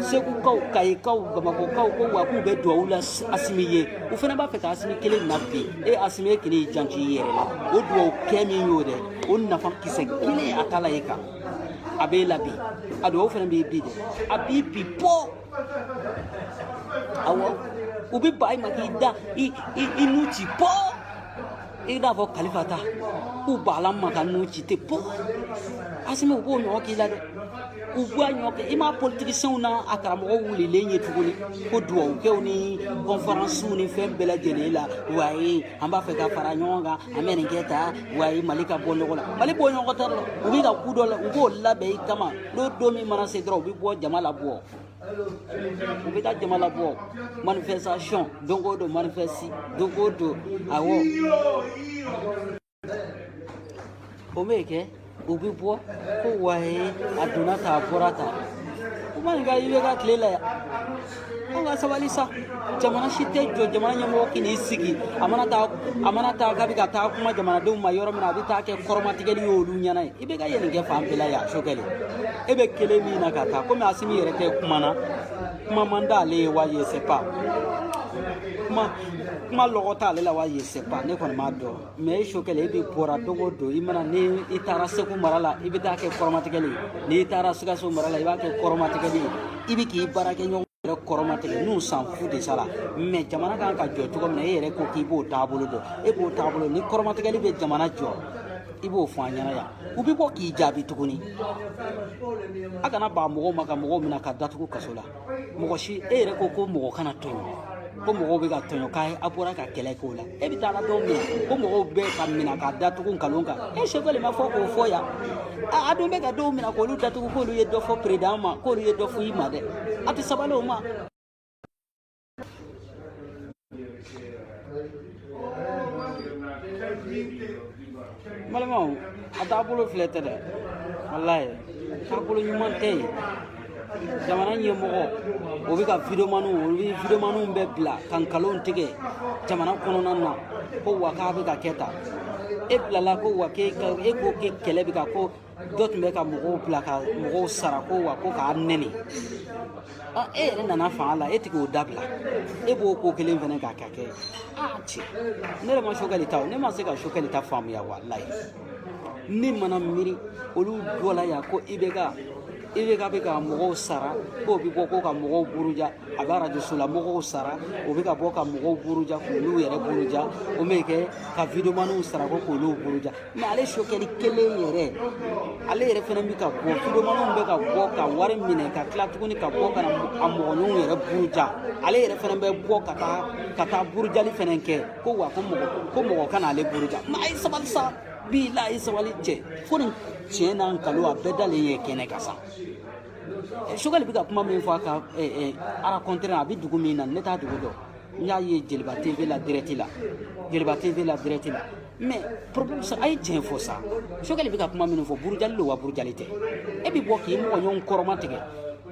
segukaw kayikaw bamakɔkaw ko wa k'u bɛ dubaw la asimi ye u fana b'a fɛ ka asimi kelen nabin e asimi ye kelen janto i yɛrɛ la o dubaw kɛ min y'o dɛ o nafa kisɛ kelen a t'a la e kan a b'e labin a dubaw fana b'i bin dɛ a b'i bin po awɔ u bɛ ban i ma k'i da i i i nun ci po i n'a fɔ kalifa ta k'u balan ma ka n'u ci te po asimi u b'o ɲɔgɔn k'i la dɛ u b'a ɲɔgɔn kɛ i m'a politikisenw na a karamɔgɔ wulilen ye tuguni ko dugawukɛw ni kɔnferansiw ni fɛn bɛɛ lajɛlen la waye an b'a fɛ ka fara ɲɔgɔn kan an bɛ nin kɛ tan waye mali ka bɔ nɔgɔ la mali bɔ ɲɔgɔn tɛ dɛ u bɛ ka ko dɔ la u b'o labɛn i kama n'o don min mana se dɔrɔn u bɛ bɔ jama labɔ u bɛ taa jama labɔ manifestation don o don manifesti don o don awɔ o bɛ kɛ u bɛ bɔ ko waye a donna tan a bɔra tan u man ɲi ka i bɛ ka tile la yan an ka sabali sa jamana si tɛ jɔ jamana ɲɛmɔgɔ k'i n'i sigi a mana taa a mana taa k'a bɛ ka taa kuma jamanadenw ma yɔrɔ min na a bɛ taa kɛ kɔrɔmatigɛli y'olu ɲɛna ye i bɛ ka yɛlɛn kɛ fan bɛɛ la yan sokɛli e bɛ kelen min na ka taa komi asimi yɛrɛ tɛ kuma na kuma man d'ale ye wa je sais pas kuma kuma lɔgɔ t'ale la wa je sais pas ne kɔni m'a dɔn mɛ e sokɛli e bɛ bɔra don o don i mana ni i taara segu mara la i bɛ taa kɛ kɔrɔmatigɛli ye n'i taara sikaso mara la i b'a kɛ kɔrɔmatigɛli ye i bɛ k'i baarakɛɲɔgɔn yɛrɛ kɔrɔmatigɛ nous s'en fout de cela mɛ jamana kan ka jɔ cogo min na e yɛrɛ ko k'i b'o taabolo dɔn e b'o taabolo ni kɔrɔmatigɛli bɛ jamana jɔ i b'o fɔ an ɲɛna yan u bɛ bɔ k'i jaabi tuguni a kana baga mɔgɔw ma ka mɔgɔw minɛ ka datugu kaso la mɔgɔ si e yɛrɛ ko ko mɔgɔ kana tɔɲɔ ko mɔgɔw bɛ ka tɔɲɔ k'a ye a bɔra ka kɛlɛ k'o la e bɛ taa dɔw min ko mɔgɔw bɛ ka minɛ ka datugu nkalon kan e sokɛli ma fɔ k'o fɔ yan a dun bɛ ka dɔw minɛ k'olu datugu k'olu ye dɔ fɔ peredan ma k'olu ye dɔ fɔ i ma dɛ a tɛ sabali o ma balimaw a taabolo filɛ tɛ dɛ walayi taabolo ɲuman tɛ yen jamana ɲɛmɔgɔ o bɛ ka videomaniw olu bɛ videomaniw bɛɛ bila ka nkalon tigɛ jamana kɔnɔna na ko wa k'a bɛ ka kɛ tan e bilala ko wa k'e ka e ko k'e kɛlɛ bɛ ka ko dɔ tun bɛ ka mɔgɔw bila ka mɔgɔw sara ko wa ko k'a nɛni a e yɛrɛ nana fanga la e tɛ k'o dabila e b'o ko kelen fana k'a ka kɛ a cɛ ne yɛrɛ ma sokɛli ta o ne ma se ka sokɛli ta faamuya walayi ne mana miiri olu dɔ la yan ko i bɛ ka i bɛ ka bɛ ka mɔgɔw sara k'o bɛ bɔ ko ka mɔgɔw buruja a bɛ arajoso la mɔgɔw sara o bɛ ka bɔ ka mɔgɔw buruja k'olu yɛrɛ buruja o bɛ kɛ ka videomaniw sara ko k'olu buruja mɛ ale sokɛli kelen yɛrɛ ale yɛrɛ fana bɛ ka bɔ widewomaniw bɛ ka bɔ ka wari minɛ ka tila tuguni ka bɔ ka na a mɔgɔɲɔgɔnw yɛrɛ buruja ale yɛrɛ fana bɛ bɔ ka taa ka taa burujali fana kɛ ko wa ko mɔgɔ ko mɔgɔ kana ale buruja mɛ a ye sabali sa bi la a ye sabali cɛ fɛn nin tiɲɛ n'a nkalon a bɛɛ dalen ye kɛnɛ kan sa sokɛli bɛ ka kuma min fɔ a ka arakɔntɛrɛ a bɛ dugu min na ne t'a dugu dɔn n y'a ye jeliba tv la dirɛti la jeliba tv la dirɛti la mɛ problème sa a ye tiɲɛ fɔ sa sokɛli bɛ ka kuma minnu fɔ burujali don wa burujali tɛ e bɛ bɔ k'i mɔgɔ ɲɔgɔn kɔrɔma tigɛ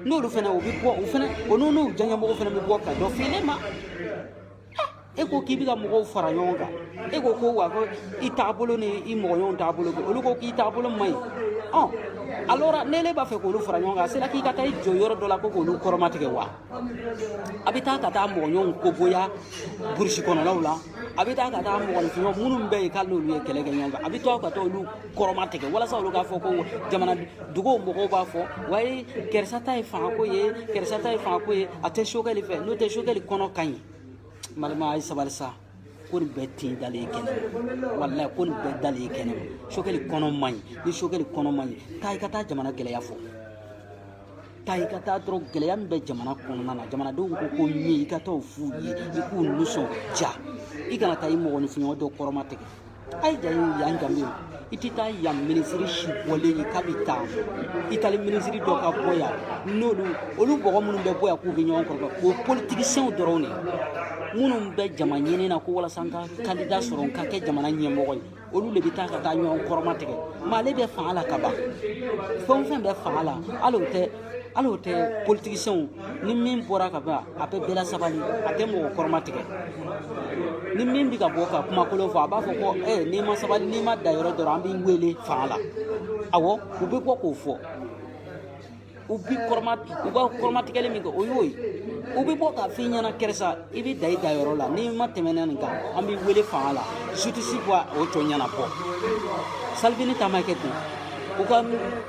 n'olu fana u bɛ bɔ u fana o n'u n'u diyanyemɔgɔ fana bɛ bɔ ka dɔ f'i ne ma e ko k'i bɛ ka mɔgɔw fara ɲɔgɔn kan e ko ko wa ko i taabolo ni i mɔgɔɲɔgɔnw taabolo kɛ olu ko k'i taabolo man ɲi ɔ alɔri n'e n'e b'a fɛ k'olu fara ɲɔgɔn kan a sera k'i ka taa i jɔ yɔrɔ dɔ la ko k'olu kɔrɔmatigɛ wa a bɛ taa ka taa mɔgɔɲɔgɔnw dɔgɔya burusi kɔnɔnaw la a bɛ taa ka taa mɔgɔɲɔgɔnw minnu bɛ yen k'ale n'olu ye kɛlɛ kɛ ɲɔgɔn fɛ a bɛ taa ka taa olu kɔrɔma tigɛ walasa olu k'a fɔ ko jamana duguw mɔgɔw b'a fɔ wayi karisa ta ye fangako ye karisa ta ye fangako ye a tɛ sokɛli fɛ n'o tɛ sokɛli kɔnɔ ka ɲi n balima a ye sabali sa ko nin bɛɛ tin dalen ye kɛnɛ walayi ko nin bɛɛ dalen ye kɛnɛ ma sokɛli kɔnɔ man ɲi ni sokɛli kɔnɔ man ɲi taa i ka taa jamana gɛlɛya fɔ taa i ka taa dɔrɔn gɛlɛya min bɛ jamana kɔnɔna na jamanadenw ko ko min ye i ka taa o f'u ye i k'u nisɔndiya i kana taa i mɔgɔninfinɲɔgɔn dɔ kɔrɔma tigɛ ayi ja ye yan danbe ye i tɛ taa yan minisiri si bɔlen ye k'a bɛ taa itali minisiri dɔ ka bɔ yan n'olu olu mɔgɔ minnu bɛ bɔ yan k'u bɛ ɲɔgɔn kɔrɔ o ye politikisɛnw dɔrɔn de ye minnu bɛ jama ɲini na ko walasa n ka kandida sɔrɔ n ka kɛ jamana ɲɛmɔgɔ ye olu de bɛ taa ka taa ɲɔgɔn kɔrɔma tigɛ mɛ ale bɛ fanga la ka ban fɛn o fɛn bɛ fanga la hali o tɛ hali o tɛ politikisɛnw ni min bɔra ka ban a bɛ bɛɛ lasabali a tɛ mɔgɔ kɔrɔma tigɛ ni min bɛ ka bɔ ka kumakolon fɔ a b'a fɔ ko ɛ n'i ma sabali n'i ma danyɔrɔ dɔrɔn an b'i wele fanga la awɔ u bɛ bɔ k'o fɔ u b'i kɔrɔma u ka kɔrɔmatigɛli min kɛ o y'o ye u bɛ bɔ k'a f'i ɲɛna karisa i bɛ dan i danyɔrɔ la n'i ma tɛmɛna nin kan an b'i wele fanga la zusitisi b'o tɔ ɲɛnabɔ salivini ta ma kɛ ten u ka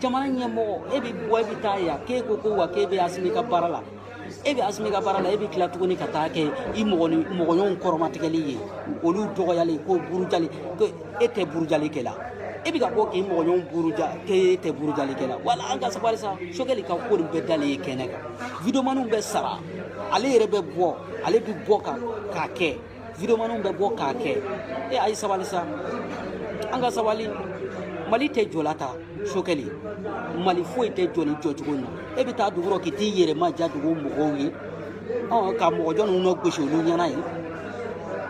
jamana ɲɛmɔgɔ e bɛ bɔ e bɛ taa yan k'e ko ko wa k'e bɛ asimi ka baara la e bɛ asimi ka baara la e bɛ tila tuguni ka taa kɛ i mɔgɔɲɔgɔnw kɔrɔmatigɛli ye olu dɔgɔyali ko burujali ko e tɛ burujali kɛ la e bɛ ka bɔ k'i mɔgɔɲɔgɔnw buruja k'e tɛ burujali kɛ la wala an ka sabali sa sokɛli ka ko nin bɛɛ dalen ye kɛnɛ kan widewomaniw bɛ sara ale yɛrɛ bɛ bɔ ale bɛ bɔ ka k'a kɛ videomanw bɛ bɔ k'a kɛ e a ye sabali sa an ka sabali mali tɛ jɔla tan sokɛli mali foyi tɛ jɔ nin jɔcogo in na e bɛ taa dugu rɔ k'i t'i yɛrɛ ma ja dugu mɔgɔw ye ka mɔgɔ jɔn ninnu nɔ gosi olu ɲɛna ye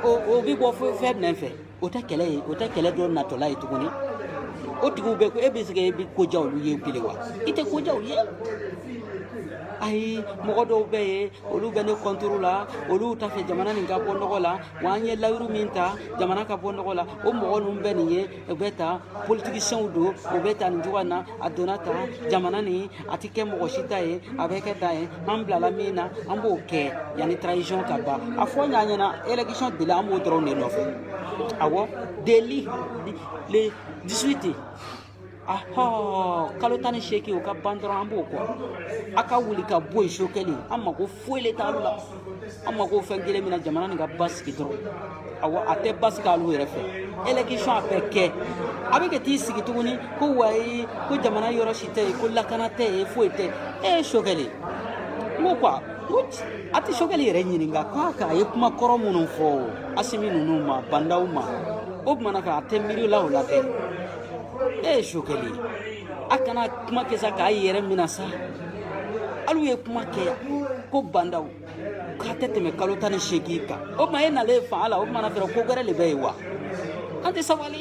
o bɛ bɔ fɛn jumɛn fɛ o tɛ kɛlɛ ye o tɛ kɛlɛ dɔ natɔla ye tuguni o tigiw bɛ ko e bɛ se ka e bɛ ko ja olu ye bilen wa i tɛ ko ja olu ye ayi mɔgɔ dɔw bɛ yen olu bɛ ne kɔntoro la olu t'a fɛ jamana nin ka bɔ nɔgɔ la wa an ye layiru min ta jamana ka bɔ nɔgɔ la o mɔgɔ ninnu bɛ nin ye u bɛ tan politigisiyɛnw don u bɛ tan nin cogoya na a donna tan jamana nin a tɛ kɛ mɔgɔ si ta ye a bɛ kɛ ta ye an bilala min na an b'o kɛ yanni transition ka ban a fɔ an ɲɛna élection délai an b'o dɔrɔn de nɔfɛ awɔ délai le 18 ahɔ kalo tan ni seegin o ka ban dɔrɔn an b'o kɔ a ka wuli ka bɔ yen sokɛli an mako foyi le t'alu la an mako fɛn kelen min na jamana nin ka basigi dɔrɔn awɔ a tɛ basigi alu yɛrɛ fɛ election a bɛ kɛ a bɛ ka t'i sigi tuguni ko wayi ko jamana yɔrɔ si tɛ yen ko lakana tɛ yen foyi tɛ e ye sokɛli n ko quoi ko a tɛ sokɛli yɛrɛ ɲininka k'a k'a ye kuma kɔrɔ minnu fɔ asimi ninnu ma bandaw ma o tuma na ka a tɛ miiri la o la dɛ ee sokɛli a kana kuma kɛ sa k'a yɛrɛ mina sa alu ye kuma kɛ yan ko bandaw k'a tɛ tɛmɛ kalo tan ni seegin kan o tuma e nalen fanga la o tuma na dɔrɔn ko gɛrɛ de bɛ yen wa an tɛ sabali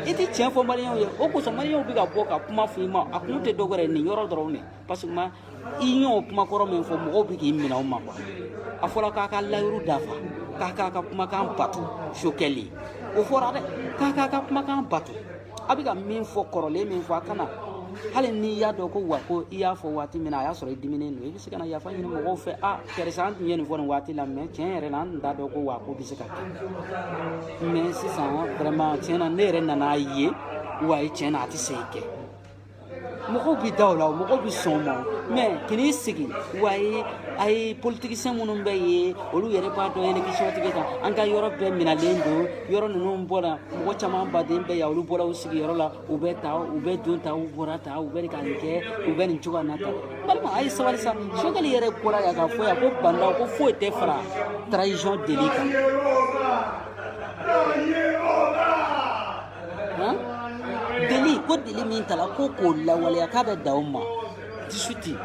i tɛ tiɲɛ fɔ maliyɛnw ye o kosɔn maliyɛnw bɛ ka bɔ ka kuma fɔ i ma a kun tɛ dɔ wɛrɛ ye nin yɔrɔ dɔrɔn de parce que ma i y'o kuma kɔrɔ min fɔ mɔgɔw bɛ k'i minɛ o ma quoi a fɔra k'a ka layiru dafa k'a k'a ka kumakan bato sokɛli o fɔra dɛ k'a k'a ka kumakan bato a bɛ ka min fɔ kɔrɔlen min fɔ a kana hali n'i y'a dɔn ko wa ko i y'a fɔ waati min na a y'a sɔrɔ i diminen don i bɛ se ka na yafa ɲini mɔgɔw fɛ a karisa an tun ye nin fɔ nin waati la mais tiɲɛ yɛrɛ la an tun t'a dɔn ko wa ko bɛ se ka kɛ mais sisan vraiment tiɲɛ na ne yɛrɛ nan'a ye wa ye tiɲɛ na a tɛ se ka kɛ mɔgɔw bɛ da o la mɔgɔw bɛ sɔn a ma mais k'i sigi wa ye a ye politikisɛn minnu bɛ yen olu yɛrɛ b'a dɔn elekisiyɔn tɛ kɛ k'an ka yɔrɔ bɛɛ minɛlen don yɔrɔ ninnu bɔra mɔgɔ caman baden bɛ yan olu bɔra u sigiyɔrɔ la u bɛ tan u bɛ don tan u bɔra tan u bɛ ka nin kɛ u bɛ nin cogoya na tan balima a ye sabali sa sokɛli yɛrɛ bɔra yan k'a fɔ yan ko bandaw ko foyi tɛ fara transition délai kan délai ko délai min tala ko k'o lawaleya k'a bɛ dan o ma 18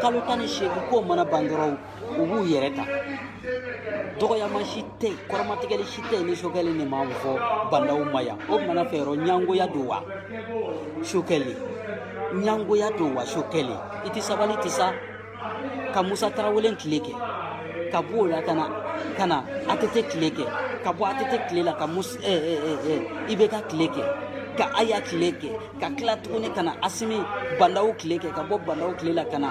kalo tan ni seegin k'o mana ban dɔrɔn u b'u yɛrɛ ta dɔgɔyama si tɛ yen kɔrɔmatigɛli si tɛ yen ni sokɛli nin ma fɔ bandaw ma yan o mana fɛ yɔrɔ ɲangoya don wa sokɛli ɲangoya don wa sokɛli i tɛ sabali ten sa ka musa tarawele tile kɛ ka bɔ o la ka na ka na atete tile kɛ ka bɔ atete tile la ka mus eh, eh, eh, eh, ibeka tile kɛ ka aya tile kɛ ka tila tuguni ka na asimi bandaw tile kɛ ka bɔ bandaw tile la ka na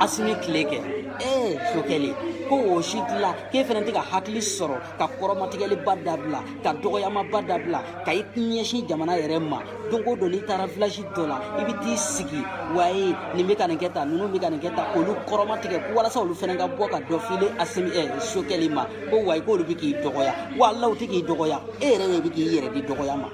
asimi tile kɛ ee sokɛli ko o si tila k'e fana tɛ ka hakili sɔrɔ ka kɔrɔmatigɛliba dabila ka dɔgɔyamaba dabila ka i ɲɛsin jamana yɛrɛ ma don o don n'i taara vilasi dɔ la i bɛ t'i sigi waye nin bɛ ka nin kɛ tan ninnu bɛ ka nin kɛ tan olu kɔrɔmatigɛ walasa olu fana ka bɔ ka dɔ file a semi ɛ eh, sokɛli ma ko wayi k'olu bɛ k'i dɔgɔya wa alaw tɛ k'i dɔgɔya e yɛrɛ de bɛ k'i yɛrɛ di dɔgɔya ma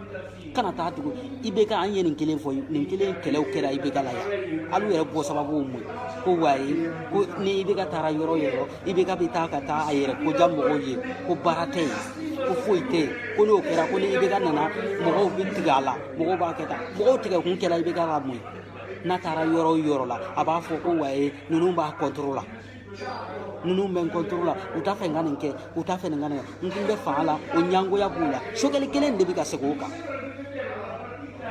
kana taa tugun ibeka an ye nin kelen fɔ nin kelen kɛlɛw kɛra ibeka la yan alu yɛrɛ bɔ sababu mun ko waye ko ni ibeka taara yɔrɔ yɔrɔ ibeka bɛ taa ka taa a yɛrɛ ko ja mɔgɔw ye ko baara tɛ yen ko foyi tɛ yen ko n'o kɛra ko ni ibeka nana mɔgɔw bɛ tigɛ a la mɔgɔw b'a kɛ tan mɔgɔw tigɛ kun kɛra ibeka ka mun ye n'a taara yɔrɔ o yɔrɔ la a b'a fɔ ko wayi ninnu b'a kɔntoro la ninnu bɛ n kɔntoro la u t'a fɛ n ka nin kɛ u t'a fɛ nin ka nin kɛ n kun bɛ fanga la o ɲangoya b'u la sokɛli kelen de bɛ ka segin o kan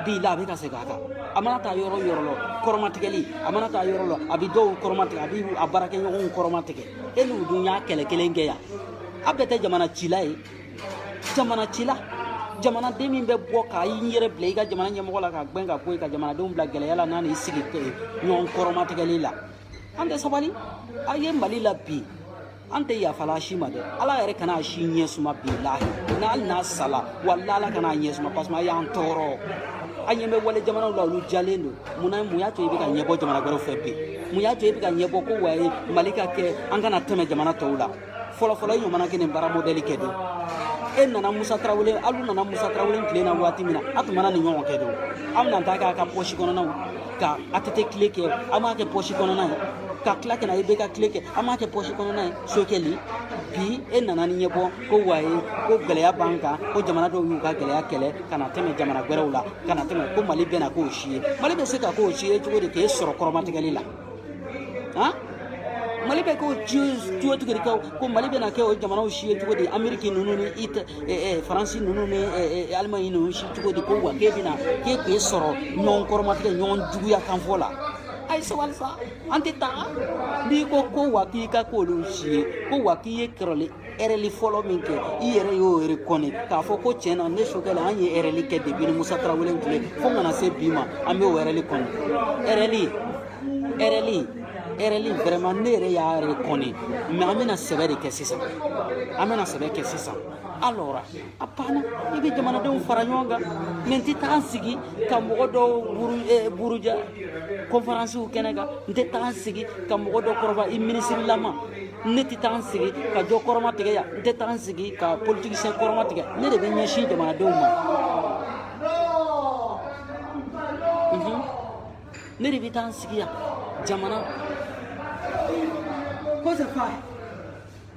bi la a bɛ ka segin a kan a mana taa yɔrɔ yɔrɔ la kɔrɔmatigɛli a mana taa yɔrɔ la a bɛ dɔw kɔrɔmatigɛ a bɛ a baarakɛɲɔgɔnw kɔrɔmatigɛ e n'u dun y'a kɛlɛ kelen kɛ yan a bɛɛ tɛ jamana cila ye jamana cila jamanaden min bɛ bɔ ka i yɛrɛ bila i ka jamana ɲɛmɔgɔ la k'a gbɛn ka bɔ yen ka jamanadenw bila gɛlɛya la n'a n'i sigi ɲɔgɔn kɔrɔmatigɛli la an tɛ sabali a ye mali la bi an tɛ yafa alu si ma dɛ ala yɛrɛ kana si ɲɛ suma bilahi na hali n'a sala wala ala kana ɲɛ suma parce que a y'an tɔɔrɔ an ɲɛ bɛ wali jamanaw la olu jɔlen don munna mun y'a to i bɛ ka ɲɛbɔ jamana wɛrɛw fɛ bi mun y'a to i bɛ ka ɲɛbɔ ko waye mali ka kɛ an ka na tɛmɛ jamana tɔw la fɔlɔfɔlɔ i ɲɔgɔnna kɛ nin baara mɔdɛli kɛ don e nana musa tarawele alu nana musa tarawele tile na waati min na a tun mana nin ɲɔgɔn kɛ don an bɛna taa kɛ a ka pɔsi kɔnɔnaw ka atete tile kɛ an b'a kɛ pɔsi kɔnɔna ye ka tila ka na ibeka tile kɛ an b'a kɛ pɔsi kɔnɔna ye sokɛli bi e nana ni ɲɛbɔ ko waye ko gɛlɛya b'an kan ko jamana dɔw y'u ka gɛlɛya kɛlɛ ka na tɛmɛ jamana gwɛrɛw la ka na tɛmɛ ko mali bɛna k'o si ye mali bɛ se ka k'o si ye cogo di k'e sɔrɔ kɔrɔmatigɛli la han mali bɛ k'o cogo tigɛ kɛ ko mali bɛna kɛ o jamanaw si ye cogo di ameriki ninnu ni it faransi ninnu ni alimaɲi ninnu si cogo di ko wa k'e bɛna k'e k'e sɔrɔ ɲɔgɔn kɔrɔmatigɛ ɲɔgɔn juguya kanfɔ la a ye sabali sa an tɛ taga n'i ko ko wa k'i ka k'olu si ye ko wa k'i ye kɛrɛli ɛrɛli fɔlɔ min kɛ i yɛrɛ y'o rekɔni k'a fɔ ko tiɲɛ na ne sokɛli an ye ɛrɛli kɛ depuis ni musa tarawele tile fo ka na se bi ma an bɛ o ɛrɛli kɔni ɛrɛli ɛrɛli ɛrɛli vraiment ne yɛrɛ y'a rekɔni mais an bɛna sɛbɛ de kɛ sisan an bɛna sɛbɛ kɛ sisan alors a banna i bɛ jamanadenw fara ɲɔgɔn kan mɛ n tɛ taa n sigi ka mɔgɔ dɔw buruja kɔnfaransiw kɛnɛ kan n tɛ taa n sigi ka mɔgɔ dɔ kɔrɔba i minisirilama ne tɛ taa n sigi ka jɔ kɔrɔmatigɛ yan n tɛ taa n sigi ka politikisiyɛn kɔrɔmatigɛ ne de bɛ ɲɛsin jamanadenw ma ne de bɛ taa n sigi yan jamana ko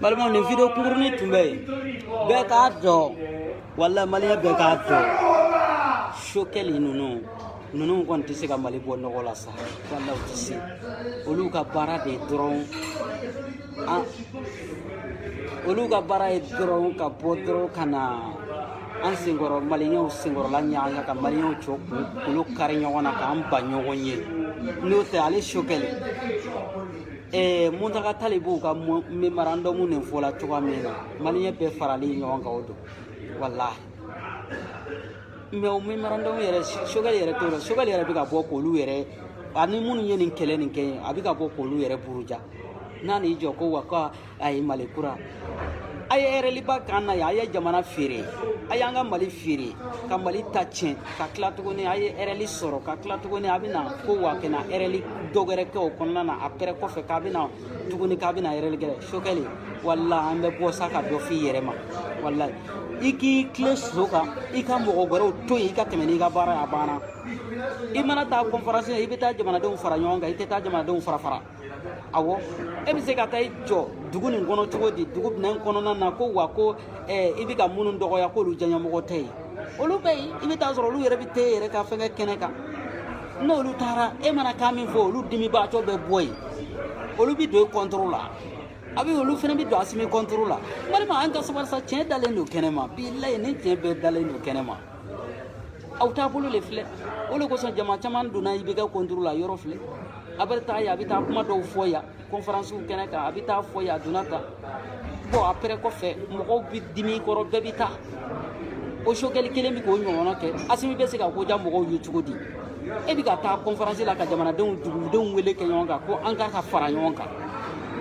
balimaw nin video kunkurunin tun bɛ yen bɛɛ k'a dɔn wala maliyɛn bɛɛ k'a dɔn sokɛli ninnu ninnu kɔni tɛ se ka mali bɔ nɔgɔ la sa wala u tɛ se olu ka baara de ye dɔrɔn an olu ka baara ye dɔrɔn ka bɔ dɔrɔn ka na an senkɔrɔ maliyɛnw senkɔrɔla ɲaga ka maliyɛnw cɔ kun k'olu kari ɲɔgɔn na k'an ba ɲɔgɔn ye n'o tɛ ale sokɛli Eh, muntaga tali b'u ka memorandum nin fɔla cogoya min na maliyɛn bɛɛ faralen ɲɔgɔn kan o don walahi mɛ o memorandum yɛrɛ sogɛli yɛrɛ t'o la sogɛli yɛrɛ bɛ ka bɔ k'olu yɛrɛ ani minnu ye nin kɛlɛ nin kɛ ye a bɛ ka bɔ k'olu yɛrɛ buruja n'a n'i jɔ ko wa ko a ye mali kura a ye erɛliba k'an na yan a ye jamana feere a y'an ka mali feere ka mali ta tiɲɛ ka tila tuguni a ye erɛli sɔrɔ ka tila tuguni a bɛna ko wa kɛna erɛli dɔ wɛrɛ kɛ o kɔnɔna na apɛrɛ kɔfɛ k'a bɛna tuguni k'a bɛna erɛli kɛ sokɛli walahi an bɛ bɔ sa ka dɔ f'i yɛrɛ ma walahi i k'i tilen sira kan i ka mɔgɔ wɛrɛw to yen i ka tɛmɛ n'i ka baara ye a banna i mana taa kɔnfaransi la i bɛ taa jamanadenw fara ɲɔgɔn kan i tɛ taa jamanadenw farafara awo e bɛ se ka taa i jɔ dugu nin kɔnɔ cogo di dugu minɛn kɔnɔna na ko wa ko eh, i bɛ ka minnu dɔgɔya k'olu diyanyemɔgɔ tɛ yen olu bɛ yen i bɛ taa sɔrɔ olu yɛrɛ bɛ t'e yɛrɛ ka fɛngɛ kɛnɛ kan n'olu taara e mana kan min fɔ olu dimibaatɔ bɛ bɔ yen olu bɛ don i kɔntoro la a bɛ olu fana bɛ don asimi kɔntoro la balima an ka sabali sa tiɲɛ dalen don kɛnɛ ma bilayi ni tiɲɛ bɛɛ dalen don kɛnɛ ma aw taabolo de filɛ o de kosɔn jama caman donna ibeka kɔntoro la yɔrɔ filɛ a bɛ taa yan a bɛ taa kuma dɔw fɔ yan kɔnfaransiw kɛnɛ kan a bɛ taa fɔ yan a donna tan bɔn apɛrɛ kɔfɛ mɔgɔw bɛ dimi kɔrɔ bɛɛ bɛ taa o sokɛli kelen bɛ k'o ɲɔgɔnna kɛ asimi bɛ se ka ko diya mɔgɔw ye cogo di e bɛ ka taa kɔnfaransi la ka jamanadenw dugudenw wele kɛ ɲɔgɔn kan ko an ka ka fara ɲɔgɔn kan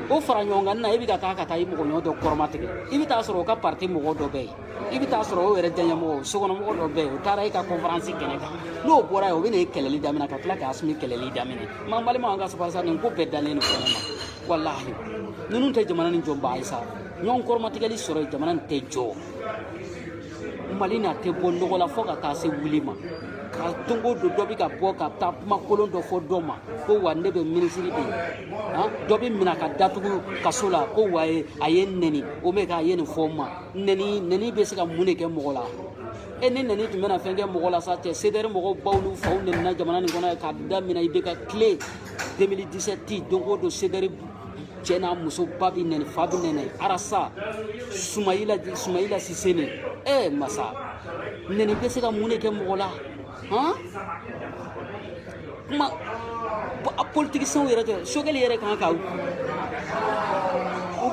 o fara ɲɔgɔn kan na e bɛ ka taa ka taa i mɔgɔ ɲɔgɔn dɔ kɔrɔmatigɛ i bɛ taa sɔrɔ o ka pariti mɔgɔ dɔ bɛ yen i bɛ taa sɔrɔ o yɛrɛ diyanyemɔgɔ sokɔnɔmɔgɔ dɔ bɛ yen o taara e ka kɔnfaransi kɛnɛ kan n'o bɔra yen o bɛ na e kɛlɛli daminɛ ka tila k'asimi kɛlɛli daminɛ man balima an ka sabali sa nin ko bɛɛ dalen don kɛnɛ ma walahi ninnu tɛ jamana nin jɔbaa ye sa ɲɔgɔn kɔrɔmatigɛli sɔrɔ jamana nin tɛ jɔ mali nin tɛ bɔ nɔgɔ la fo ka taa se wuli ma ka don o don dɔ bɛ ka bɔ ka taa kuma kolon dɔ fɔ dɔ ma ko wa ne bɛ minisiri de ye dɔ bɛ minɛ ka datugu kaso la ko wa a ye n nɛni o mɛ k'a ye nin fɔ n ma nɛni nɛni bɛ se ka mun de kɛ mɔgɔ la e ni nɛni tun bɛna fɛn kɛ mɔgɔ la sa cɛ CDR mɔgɔw baw n'u faw nɛnina jamana nin kɔnɔ k'a daminɛ IBK tile 2017 don o don CDR cɛ n'a muso ba bɛ nɛni fa bɛ nɛni Ras sumayila sumayila sise ne e ma sa nɛni bɛ se ka mun de kɛ mɔgɔ la Hɔn kuma a politigisɛnw yɛrɛ tɛ Choguel yɛrɛ kan ka u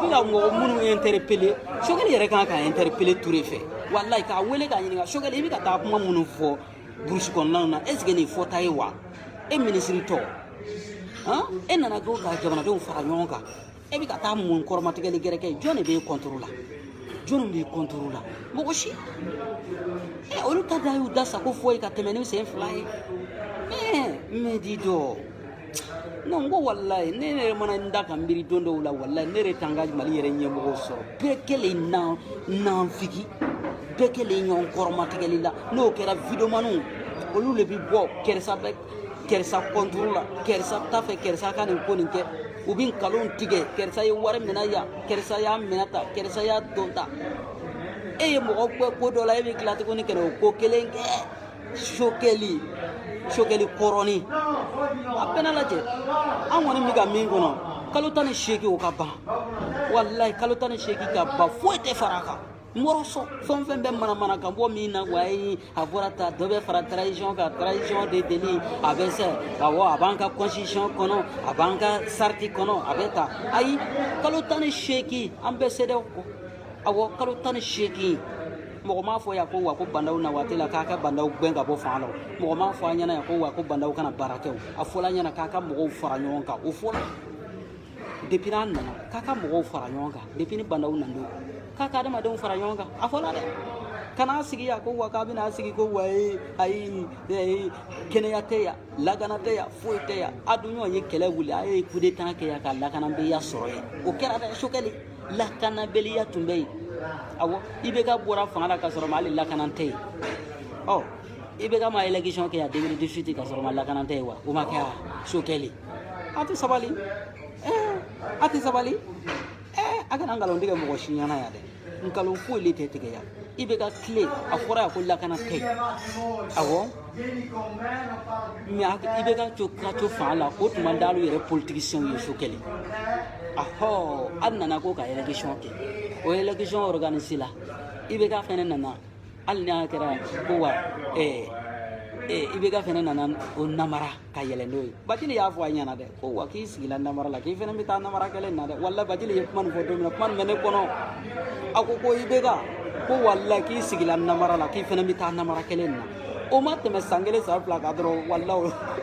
bɛ ka mɔgɔ minnu interpeller Choguel yɛrɛ kan ka interpeller Touré fɛ walayi k'a wele k'a ɲininka Choguel i bɛ ka taa kuma minnu fɔ burusi kɔnɔnaw na est ce que nin fɔta ye wa e minisiri tɔ e nana ko ka jamanadenw fara ɲɔgɔn kan e bɛ ka taa mun kɔrɔmatigɛli gɛrɛkɛ ye jɔn de b'e kɔntoro la jɔnw b'i kɔntoro la mɔgɔ si ɛ eh, olu ta da y'u da sago fɔ yen ka tɛmɛ ni sen fila ye eh, mɛ di dɔ non ko walayi ne yɛrɛ mana n da ka miiri don dɔw la walayi ne yɛrɛ t'an ka mali yɛrɛ ɲɛmɔgɔw sɔrɔ bɛɛ kelen nanfigi bɛɛ kelen ɲɔgɔn kɔrɔmatigɛli la n'o kɛra videomanw olu de bɛ bɔ ko Ras yan fɛ ko Ras kɔnturu la ko Ras tan fɛ ko Ras ka nin ko nin kɛ u bɛ nkalon tigɛ ko Ras ye wari minɛ yan ko Ras y'a minɛ tan ko Ras y'a don tan e ye mɔgɔ kɛ ko dɔ la e bɛ tila tuguni ka na o ko kelen kɛ Choguel Choguel kɔrɔni a bɛna lajɛ an kɔni bɛ ka min kɔnɔ kalo tan ni seegin o ka ban walayi kalo tan ni seegin ka ban foyi tɛ fara a kan n wɔrɔ sɔn fɛn o fɛn bɛ manamana ka bɔ min na wa ye a fɔra tan dɔ bɛ fara transition kan transition de deli a bɛ se awɔ a b'an ka constitution kɔnɔ a b'an ka charte kɔnɔ a bɛ ta ayi kalo tan ni seegin an bɛ CEDEAO kɔ awɔ kalo tan ni seegin mɔgɔ m'a fɔ yan ko wa ko Bah N'Daw na waati la k'an ka Bah N'Daw gɛn ka bɔ fanga la mɔgɔ m'a fɔ an ɲɛna yan ko wa ko Bah N'Daw kana baara kɛ o a fɔla an ɲɛna k'an ka mɔgɔw fara ɲɔgɔn kan o fɔla depuis n'an nana k'an ka mɔgɔw fara ɲɔgɔn kan depuis ni Bah N'Daw na don k'an ka adamadenw fara ɲɔgɔn kan a fɔla dɛ k'an na sigi yan ko wa k'an bɛna sigi ko wayi ayi ayi kɛnɛya tɛ yan lakana tɛ yan foyi tɛ yan a dun ɲɔgɔn ye kɛlɛ wuli a ye kudeta kɛ yan ka lakanabaliya sɔrɔ yen o kɛra dɛ Choguel lakanabaliya tun bɛ yen awɔ IBK bɔra fanga la ka sɔrɔ ma hali lakana tɛ yen ɔ IBK ma election kɛ yan 2018 ka sɔrɔ ma lakana tɛ yen wa o ma kɛ yan Choguel A tɛ sabali a tɛ sabali a kana nkalon tigɛ mɔgɔ si ɲɛna yan dɛ nkalon foyi le tɛ tigɛ yan IBK tile a fɔra yan ko lakana tɛ awɔ mɛ IBK to ka to fanga la o tuma d'alu yɛrɛ politigisiyɛnw ye Choguel ahɔ a nana ko ka election kɛ o election organiséla IBK fɛnɛ nana hali n'a kɛra ko wa ɛɛ IBK fɛnɛ nana o namara ka yɛlɛ n'o ye bajili y'a fɔ a ɲɛ na dɛ ko wa k'i sigila namara la k'i fana bɛ taa namara kelen na dɛ wala bajili ye kuma nin fɔ don min na kuma nin bɛ ne kɔnɔ a ko ko ibk ko wala k'i sigila namara la k'i fana bɛ taa namara kelen na o ma tɛmɛ san kelen san fila kan dɔrɔn wala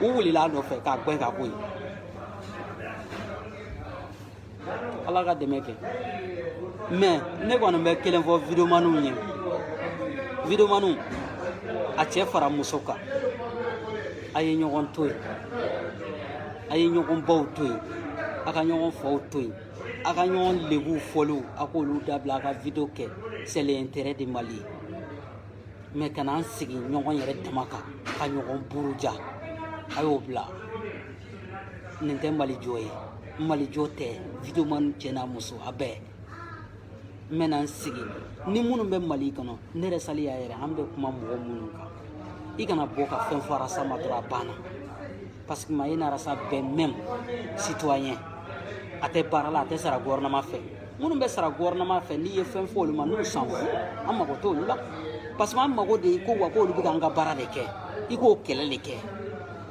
u wulila a nɔfɛ k'a gɛn ka bɔ yen ala ka dɛmɛ kɛ mɛ ne kɔni bɛ kelen fɔ videomaniw ye videomaniw a cɛ fara muso kan a ye ɲɔgɔn to yen a ye ɲɔgɔn baw to yen a ka ɲɔgɔn faw to yen a ka ɲɔgɔn lebuw fɔliw a k'olu dabila a ka video kɛ c'est l'intérêt de mali ye mɛ ka n'an sigi ɲɔgɔn yɛrɛ dama kan ka ɲɔgɔn buruja a y'o bila nin tɛ mali jɔ ye n mali jɔ tɛ videoman cɛ n'a muso a bɛɛ n bɛna n sigi ni minnu bɛ mali kɔnɔ ne yɛrɛ sali y'a yɛrɛ an bɛ kuma mɔgɔ minnu kan i kana bɔ ka fɛn fɔ arasa ma dɔrɔn a banna parce que maye n'arasa bɛɛ même citoyen a tɛ baara la a tɛ sara gɔfɛrɛnaman fɛ minnu bɛ sara gɔfɛrɛnaman fɛ n'i ye fɛn fɔ olu ma nous s'en fout an mago t'olu la parce que an mago de ye ko wa k'olu bɛ k'an ka baara de kɛ i k'o kɛlɛ de kɛ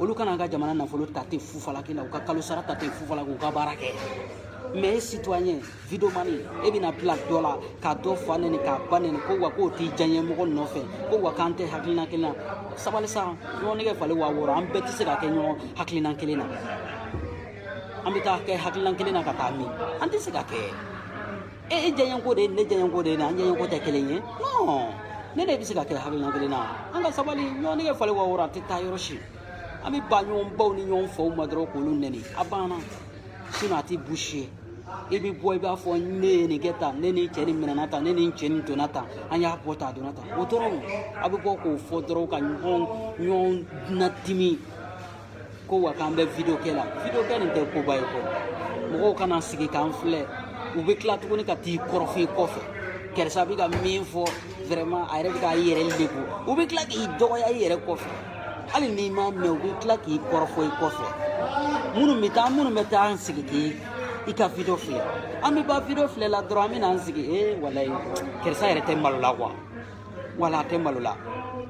olu kana ka jamana nafolo ta ten fufalaki la u ka kalo sara ta ten fufalaki u ka baara kɛ mɛ e citoyen vidomani e bɛna bila dɔ la ka dɔ fa nɛni k'a ba nɛni ko wa k'o t'i diyanyemɔgɔ nɔfɛ ko wa k'an tɛ hakilina kelen na sabali sa ɲɔgɔn nɛgɛ falen wa wɔɔrɔ an bɛɛ tɛ se ka kɛ ɲɔgɔn hakilina kelen na an bɛ taa kɛ hakilina kelen na ka taa min an tɛ se ka kɛ e e diyanyeko de ye ne diyanyeko de ye an diyanyeko tɛ kelen ye non ne de bɛ se ka kɛ hakilina kelen na an ka sabali ɲɔgɔn nege falen wa wɔɔrɔ a tɛ taa yɔrɔ si an bɛ bɔ ɲɔgɔn baw ni ɲɔgɔn faw ma dɔrɔn k'olu nɛni a banna sinɔn a tɛ fosi ye i bɛ bɔ i b'a fɔ ne ye nin kɛ tan ne ni cɛ nin minɛna tan ne ni cɛ nin donna tan an y'a bɔ tan a donna tan o dɔrɔn a bɛ bɔ k'o fɔ dɔrɔn ka ɲɔgɔn ɲɔgɔn nadimi ko wa k'an bɛ video kɛ la video kɛ nin tɛ koba ye ko mɔgɔw kana sigi k'an filɛ u bɛ tila tuguni ka t'i kɔrɔfɔ i kɔfɛ karisa bɛ ka min fɔ vraiment a yɛrɛ bɛ k'a yɛrɛ lebu u bɛ tila k'i dɔgɔya i yɛrɛ kɔfɛ hali n'i m'a mɛn u bɛ tila k'i kɔrɔfɔ i kɔfɛ minnu bɛ taa minnu bɛ taa an sigi k'i i ka video filɛ an bɛ bɔ video filɛ la dɔrɔn an bɛ n'an sigi ee walayi karisa yɛrɛ tɛ malo la kuwa wala a tɛ malo la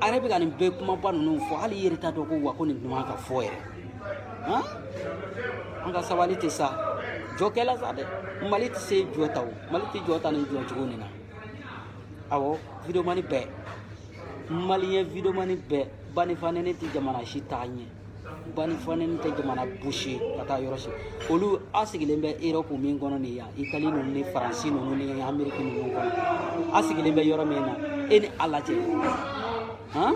a yɛrɛ bɛ ka nin bɛɛ kumaba ninnu fɔ hali i yɛrɛ t'a dɔn ko wa ko nin dun man ka fɔ yɛrɛ han an ka sabali tɛ sa jɔ kɛla sa dɛ mali tɛ se jɔ tan o mali tɛ jɔ tan nin jɔcogo nin na awɔ videomani bɛɛ maliyɛn videomani bɛɛ ba ni fa nɛni tɛ jamana si taa ɲɛ banini fanini tɛ jamana busi ka taa yɔrɔ si olu a sigilen bɛ erɔpu min kɔnɔ nin yan itali ninnu ni faransi ninnu ni ameriki ninnu kɔnɔ a sigilen bɛ yɔrɔ min na e ni ala cɛ han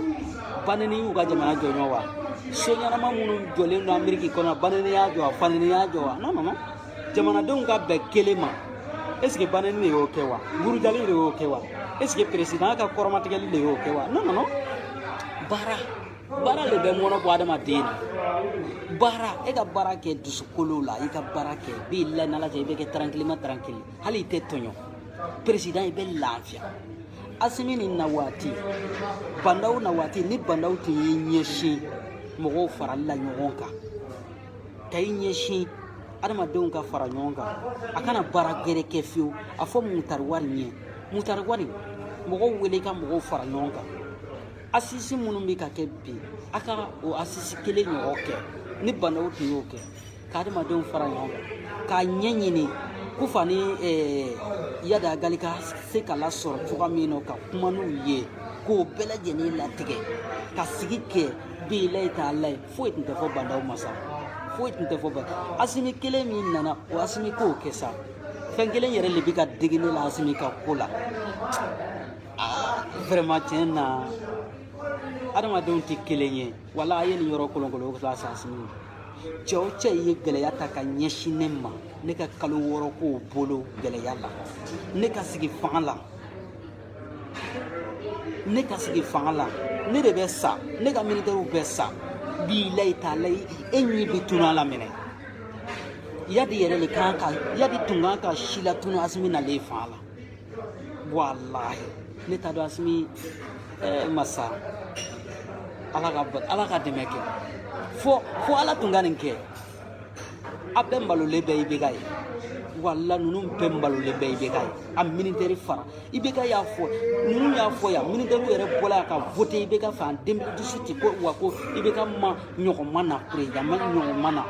banini y'u ka jamana jɔɲɔ wa so ɲɛnama minnu jɔlen don ameriki kɔnɔ banini y'a jɔ wa fanini y'a jɔ wa non non non jamanadenw ka bɛn kelen ma est ce que banini de y'o kɛ wa burujali de y'o kɛ wa est ce que peresidan ka kɔrɔmatigɛli de y'o kɛ wa non non non baara baara le bɛ mɔnɔ bɔ adamaden na baara e ka baara kɛ dusukolo la i ka baara kɛ bi la n'ala cɛ i bɛ kɛ tarankiliman tarankili hali i tɛ tɔɲɔ peresidan i bɛ lafiya asimi ni na waati bandaw na waati ni bandaw tun y'i ɲɛsin mɔgɔw farali la ɲɔgɔn kan ka i ɲɛsin adamadenw ka fara ɲɔgɔn kan a kana baara gɛrɛ kɛ fiyewu a fɔ mutari wani ye mutari wani mɔgɔw wele ka mɔgɔw fara ɲɔgɔn kan asisi minnu bɛ ka kɛ bi a ka o asisi kelen ɲɔgɔn kɛ ni bandaw tun y'o kɛ ka adamadenw fara ɲɔgɔn kan k'a ɲɛɲini kufa ni eh, yadi agali ka se ka lasɔrɔ cogoya min na ka kuma n'u ye k'o bɛɛ lajɛlen latigɛ ka sigi kɛ bilayi talayi foyi tun tɛ fɔ bandaw ma sa foyi tun tɛ fɔ ba asimi kelen min nana o asimi k'o kɛ sa fɛn kelen yɛrɛ de bɛ ka digi ne la asimi ka ko la Vraiment tiɲɛ na adamadenw tɛ kelen ye wala a ye nin yɔrɔ kolonkolon lase asimi cɛ o cɛ ye gɛlɛya ta ka ɲɛsin ne ma ne ka kalo wɔɔrɔ k'o bolo gɛlɛya la ne ka sigi fanga la ne ka sigi fanga la ne de bɛ sa ne ka militɛriw bɛ sa bilayi talayi e ɲɛ bɛ tunu a la minɛ yadi yɛrɛ de kan ka yadi tun kan ka silatunu asimi nalen fanga la walahi ne t'a dɔn asimi eh, masa ala ka ala ka dɛmɛ kɛ fo fo ala tun ka nin kɛ a bɛɛ malolen bɛ ibeka ye wala ninnu bɛɛ malolen bɛ ibeka ye a minitɛri fara ibeka y'a fɔ ninnu y'a fɔ yan minitɛriw yɛrɛ bɔla yan ka vote ibeka fɛ an den dusu ti ko wa ko ibeka ma ɲɔgɔn ma na peresidan ma ɲɔgɔn ma na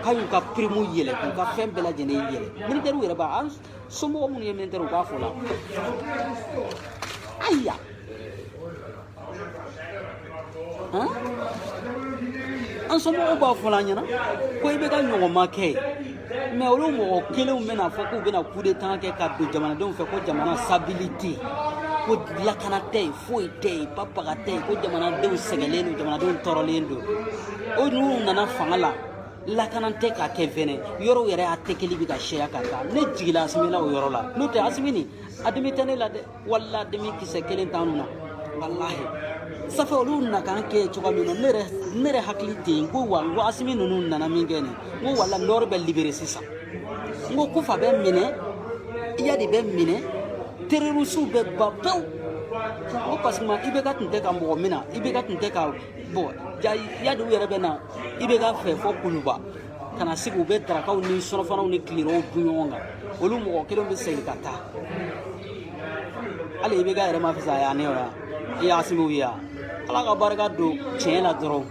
k'a y'u ka pirimu yɛlɛn k'u ka fɛn bɛɛ lajɛlen yɛlɛn minitɛriw yɛrɛ b'a somɔgɔ minnu ye minitɛri u b'a fɔ la ayiwa an somɔgɔw b'a fɔ la an ɲɛna ko ibeka ɲɔgɔn ma kɛ mɛ olu mɔgɔ kelenw bɛna fɔ k'u bɛna kudetan kɛ ka don jamanadenw fɛ ko jamana stabilité ko lakana tɛ yen foyi tɛ yen babaga tɛ yen ko jamanadenw sɛgɛnlen don jamanadenw tɔɔrɔlen don ko n'u nana fanga la lakanan tɛ k'a kɛ fɛnɛ yɔrɔw yɛrɛ atakili bɛ ka caya ka taa ne jigila asimi na o yɔrɔ la n'o tɛ asimi nin a dimi tɛ ne la dɛ wala dimi kisɛ kelen t'an na walahi ça fait olu na k'an kɛ cogoya min na ne yɛrɛ ne yɛrɛ hakili tɛ yen ko wa n ko asimi ninnu nana min kɛ nin n ko voilà nɔri bɛ libere sisan n ko kufa bɛ minɛ iyadi bɛ minɛ tererisiw bɛ ban pewu n ko parce que IBK tun tɛ ka mɔgɔ minɛ IBK tun tɛ ka bɔn iyadi u yɛrɛ bɛ na IBK fɛ fo kuluba ka na sigi u bɛ darakaw ni surɔfanaw ni tilerɔw dun ɲɔgɔn kan olu mɔgɔ kelen bɛ segin ka taa hali IBK yɛrɛ ma fisaya ne yɔrɔ ni asimiw ye yan ala ka barika don tiɲɛ la dɔrɔn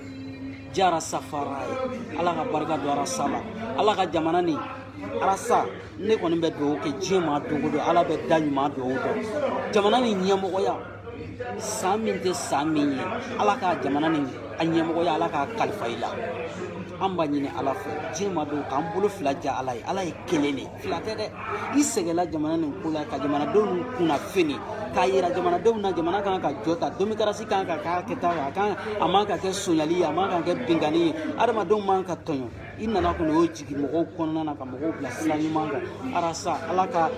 jah rastafari ala ka barika don arasa la ala ka jamana nin arasa ne kɔni bɛ dugawu kɛ juma don o don ala bɛ da ɲuman dugawu dɔn jamana nin ɲɛmɔgɔya san min tɛ san min ye ala ka jamana nin ɲɛmɔgɔya ala k'a kalifa i la an b'a ɲini ala fɛ juma don k'an bolo fila ja ala ye ala ye kelen de fila tɛ dɛ i sɛgɛnla jamana nin ko la ka jamanadenw kunnafoni k'a yira jamanadenw na jamana kan ka jɔ ta demokarasi kan ka k'a kɛta a kan a man ka kɛ sonyali ye a man ka kɛ binkanni ye adamadenw man ka tɔɲɔ i nana kɔni o jigin mɔgɔw kɔnɔna na ka mɔgɔw bila sira ɲuman kan arasa ala ka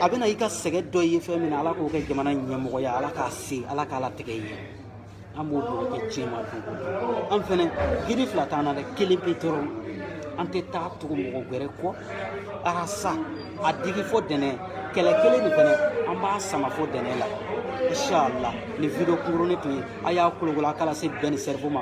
a bɛna i ka sɛgɛn dɔgɔya fɛn min na ala k'o kɛ jamana ɲɛmɔgɔya ala k'a se ala k'a latigɛ i ye an b'o dugawu kɛ juma don an fɛnɛ jigi fila t'an na dɛ kelen pe dɔrɔn an tɛ taa tugu mɔgɔ wɛrɛ kɔ arasa a digi fo dɛnɛ kɛlɛ kelen nin fɛnɛ an b'a sama fo dɛnɛ la inshallah nin video kunkurunin tun ye a y'a kolokolo a k'a lase Ben le Cerveau ma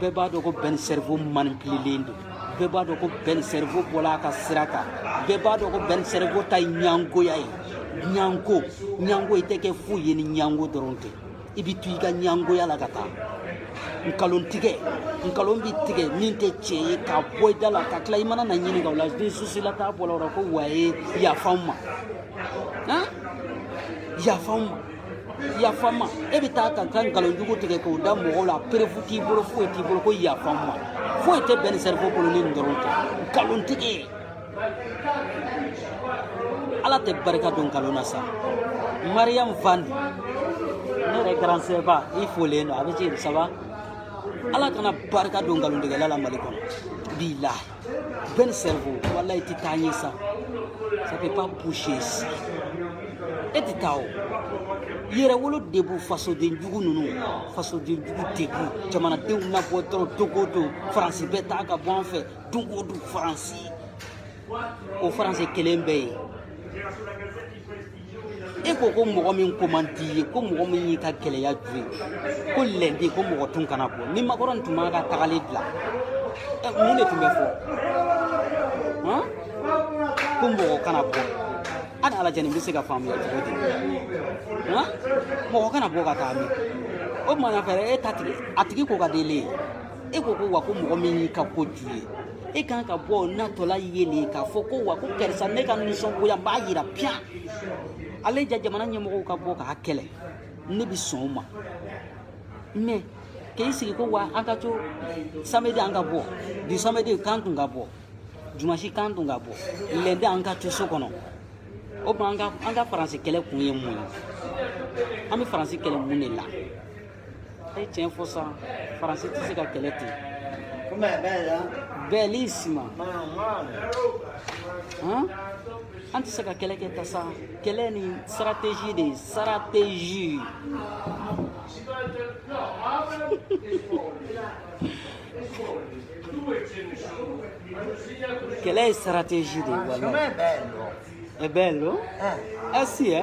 bɛɛ b'a dɔn ko Ben le Cerveau manipilelen don bɛɛ b'a dɔn ko Ben le Cerveau bɔla a ka sira kan bɛɛ b'a dɔn ko Ben le Cerveau ta ye ɲangoya ye ɲango ɲango i tɛ kɛ foyi ye ni ɲango dɔrɔn tɛ i bɛ to i ka ɲangoya la ka taa nkalon tigɛ nkalon bɛ tigɛ min tɛ tiɲɛ ye k'a bɔ i da la ka tila i mana na ɲininka o la ni susila t'a bɔla o la ko waye yafa n ma yafa n ma yafa n ma e bɛ taa ka ka nkalonjugu tigɛ k'o da mɔgɔw la perefu t'i bolo foyi t'i bolo ko yafa n ma foyi tɛ Ben le Cerveau bolo ni nin dɔrɔn tɛ nkalontigɛ ala tɛ barika don nkalon na sa mariyamu fane yɛrɛ garan sɛba i folen don a bɛ ci saba ala kana barika don nkalontigɛla la mali kɔnɔ bilahi Ben le Cerveau, walayi, i t'a ye sa. Ça ne peut pas boucher ici. Et tu t'as yɛrɛwolo de b'u fasodenjugu ninnu fasodenjugu de b'u jamanadenw mabɔ dɔrɔn don o don faransi bɛ taa ka bɔ an fɛ don o don faransi o faransi kelen bɛɛ ye e ko ko mɔgɔ min ko man di i ye ko mɔgɔ min y'i ka gɛlɛya ju ye ko lɛndi ko mɔgɔ tun kana bɔ ni makɔrɔni tun m'a ka tagali bila mun de tun bɛ fɔ ko mɔgɔ kana bɔ hali a lajɛ nin bɛ se ka faamuya cogo di mɔgɔ kana bɔ ka taa min o tuma fɛ e ta tigi a tigi ko ka di e le ye e ko ko wa ko mɔgɔ min y'i ka ko ju ye e kan ka bɔ natɔla ye le k'a fɔ ko wa ko karisa ne ka nisɔngoya n b'a yira piyan ale ja jamana ɲɛmɔgɔw ka bɔ k'a kɛlɛ ne bɛ sɔn o ma mɛ k'i sigi ko wa an ka to samedi an ka bɔ bi samedi k'an tun ka bɔ dimansi k'an tun ka bɔ lɛndi an ka to so kɔnɔ o tuma an ka faransi kɛlɛ kun ye mun ye an bɛ faransi kɛlɛ mun de la A ye tiɲɛ fɔ sa faransi tɛ se ka kɛlɛ ten bɛɛli sima an tɛ se ka kɛlɛ kɛ tan sa kɛlɛ ni stratégie de ye stratégie kɛlɛ ye stratégie de ye wala ɛ bɛɛ lo ɛ si ɛ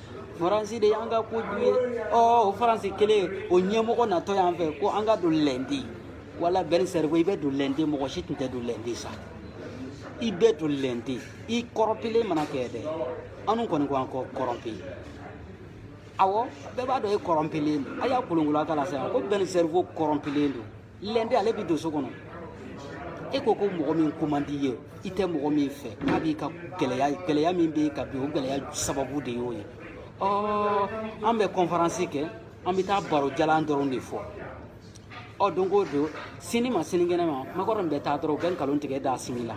faransi de y'an ka ko jugu ye ɔ o faransi kelen o ɲɛmɔgɔ natɔ y'an fɛ ko an ka don lɛndi wala bɛn sɛriwo i bɛ don lɛndi mɔgɔ si tun tɛ don lɛndi sa i bɛ don lɛndi i kɔrɔnpilen mana kɛ dɛ anw kɔni ko an kɔ kɔrɔnpi awɔ bɛɛ b'a dɔn e kɔrɔnpilen don a y'a kolonkolon a ka la sa ko bɛn sɛriwo kɔrɔnpilen don lɛndi ale bi don so kɔnɔ e ko ko mɔgɔ min ko man di i ye i tɛ mɔgɔ min fɛ n'a b'i ka gɛlɛya gɛlɛya min b'i kan bi o gɛlɛya sababu de y'o ye ɔ an bɛ kɔnferansi kɛ an bɛ taa baro jalan dɔrɔn de fɔ ɔ don o don sini ma sinikɛnɛ ma makɔrɔni bɛ taa dɔrɔn u bɛ nkalon tigɛ d'asimi la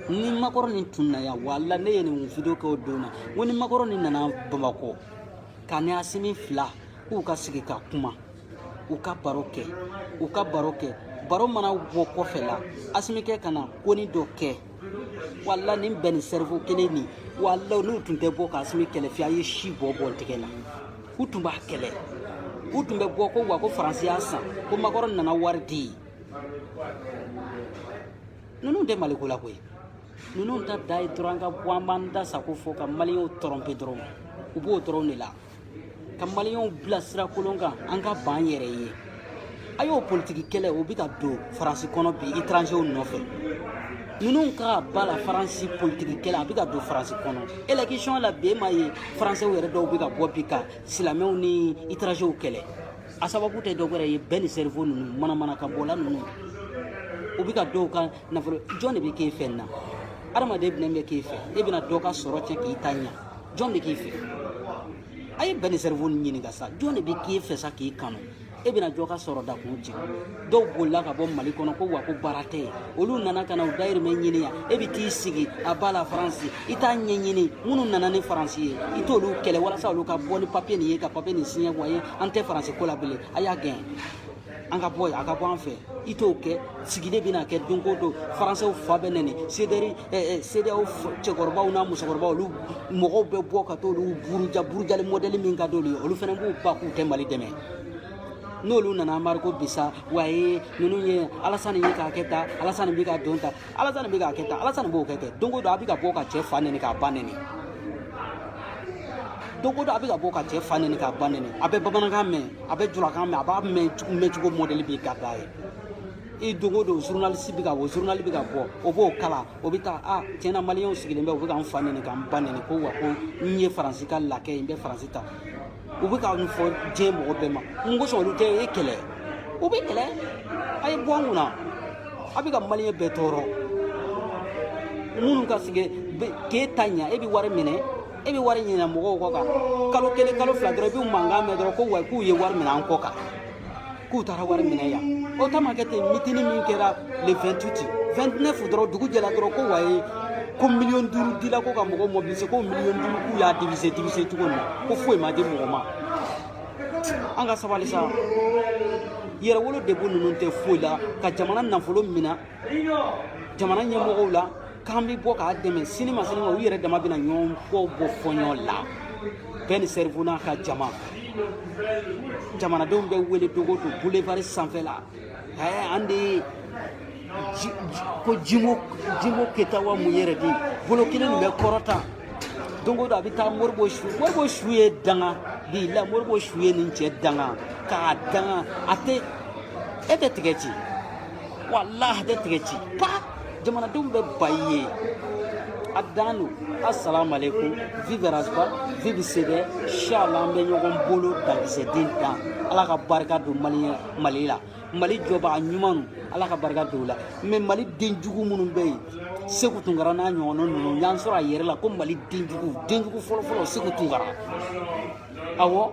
ni makɔrɔni tun na yan wala ne ye nin video kɛ o don na n ko ni makɔrɔni nana bamakɔ k'a ni asimi fila k'u ka sigi ka kuma u ka baro kɛ u ka baro kɛ baro mana bɔ kɔfɛ la asimi kɛ ka na konin dɔ kɛ wala nin bɛn le sɛriwo kelen nin wala n'u tun tɛ bɔ ka asimi kɛlɛ piyan a ye si bɔ bɔ tɛgɛ la u tun b'a kɛlɛ u tun bɛ bɔ ko wa ko faransi y'a san ko makɔrɔn nana wari di ninnu tɛ mali ko la koyi ninnu ta de ye dɔrɔn an ka bɔ an b'an da sago fɔ ka maliyɛnw tɔrɔnpe dɔrɔn u b'o dɔrɔn de la ka maliyɛnw bila sira kolon kan an ka ban yɛrɛ ye a y'o politiki kɛlɛ o bɛ ka don faransi kɔnɔ bi étrangers nɔfɛ ninnu ka à bas la france politiki kɛlɛ a bɛ ka don faransi kɔnɔ élection la bi e m'a ye faransɛw yɛrɛ dɔw bɛ ka bɔ bi ka silamɛw ni étrangers kɛlɛ a sababu tɛ dɔ wɛrɛ ye ben le cerveau ninnu manamanakan bɔla ninnu u bɛ ka dɔw ka nafolo jɔn de bɛ k'e fɛ nin na adamaden bɛnɛ bɛ k'e fɛ e bɛna dɔ ka sɔrɔ cɛ k'i ta ɲɛ jɔn de k'i fɛ a ye ben le cerveau nin ɲininka sa jɔn de bɛ k'i fɛ sa k'i kanu e bɛna jɔ ka sɔrɔ da k'u jigin dɔw bolila ka bɔ mali kɔnɔ ko wa ko baara tɛ yen olu nana ka na u dayirimɛ ɲini yan e bɛ t'i sigi à bas la france i t'a ɲɛɲini minnu nana ni faransi ye i t'olu kɛlɛ walasa olu ka bɔ ni papiye nin ye ka papiye nin siɲɛ waye an tɛ faransi ko la bilen a y'a gɛn an ka bɔ a ka bɔ an fɛ i t'o kɛ sigilen bɛna kɛ don o don faransɛw fa bɛ nɛni sederi sedeyaw cɛkɔrɔbaw n'a musokɔrɔbaw olu mɔgɔw bɛ bɔ ka t'olu buruja burujali mɔdɛli min ka d'olu ye olu fana b'u ban k'u tɛ mali dɛmɛ n'olu nana mariko bisa waye ninnu ye alasani bɛ k'a kɛ tan alasani bɛ k'a don tan alasani bɛ k'a kɛ tan alasani b'o kɛ kɛ don o don a bɛ ka bɔ ka cɛ fa nɛni k'a ba nɛni don o don a bɛ ka bɔ ka cɛ fa nɛni k'a ba nɛni a bɛ bamanankan mɛn a bɛ julakan mɛn a b'a mɛn mɛn cogo mɔdɛli b'i ka da ye i don o don zurunalisi bɛ ka bɔ zurunali bɛ ka bɔ o b'o kalan o bɛ taa a tiɲɛna maliyɛnw sigilen bɛ u bɛ ka n fa nɛni ka n ba nɛni ko wa ko n ye faransi ka lakɛ ye n bɛ faransi ta u bɛ ka min fɔ diɲɛ mɔgɔ bɛɛ ma mun kosɔn olu tɛ e kɛlɛ u b'e kɛlɛ a ye bɔ an kunna a bɛ ka maliyɛn bɛɛ tɔɔrɔ minnu ka sɛgɛn k'e ta ɲa e bɛ wari minɛ e bɛ wari minɛ mɔgɔw kɔ kan kalo kelen kalo fila dɔrɔn i bɛ mankan mɛn dɔrɔn ko wa k'u ye wari minɛ an kɔ kan k'u taara wari minɛ yan o ta ma kɛ ten mitini min kɛra le 28 29 dɔrɔn dugu jɛla dɔrɔn ko waye ko miliyɔn duuru dila ko ka mɔgɔ mobilise ko miliyɔn duuru k'u y'a divise divise cogo min ko foyi ma di mɔgɔ ma an ka sabali sa yɛrɛwolo debout ninnu tɛ foyi la ka jamana nafolo minɛ jamana ɲɛmɔgɔw la k'an bɛ bɔ k'a dɛmɛ sini ma sini ma u yɛrɛ dama bɛna ɲɔgɔn kɔ bɔ fɔ ɲɔgɔn la ben le cerveau n'a ka jama jamanadenw bɛ wele don o don boulevard sanfɛ la ɛɛ an de ye ko jimo jimo keyita wa mun yɛrɛ de bolo kelen nin bɛ kɔrɔta don o don a bɛ taa moribo su moribo su ye danga bila moribo su ye nin cɛ danga k'a danga a tɛ e tɛ tigɛ ci walahi a tɛ tigɛ ci pa jamanadenw bɛ bayi ye a dan don asalamualeykum vive ras bath vive cdr shala an bɛ ɲɔgɔn bolo dankisɛden dan ala ka barika don mali mali la mali jɔbaga ɲumanw ala ka barika don u la mais mali den jugu minnu bɛ yen segu tunkara n'a ɲɔgɔnna ninnu y'an sɔrɔ a yɛrɛ la ko mali den jugu den jugu fɔlɔfɔlɔ segu tunkara awɔ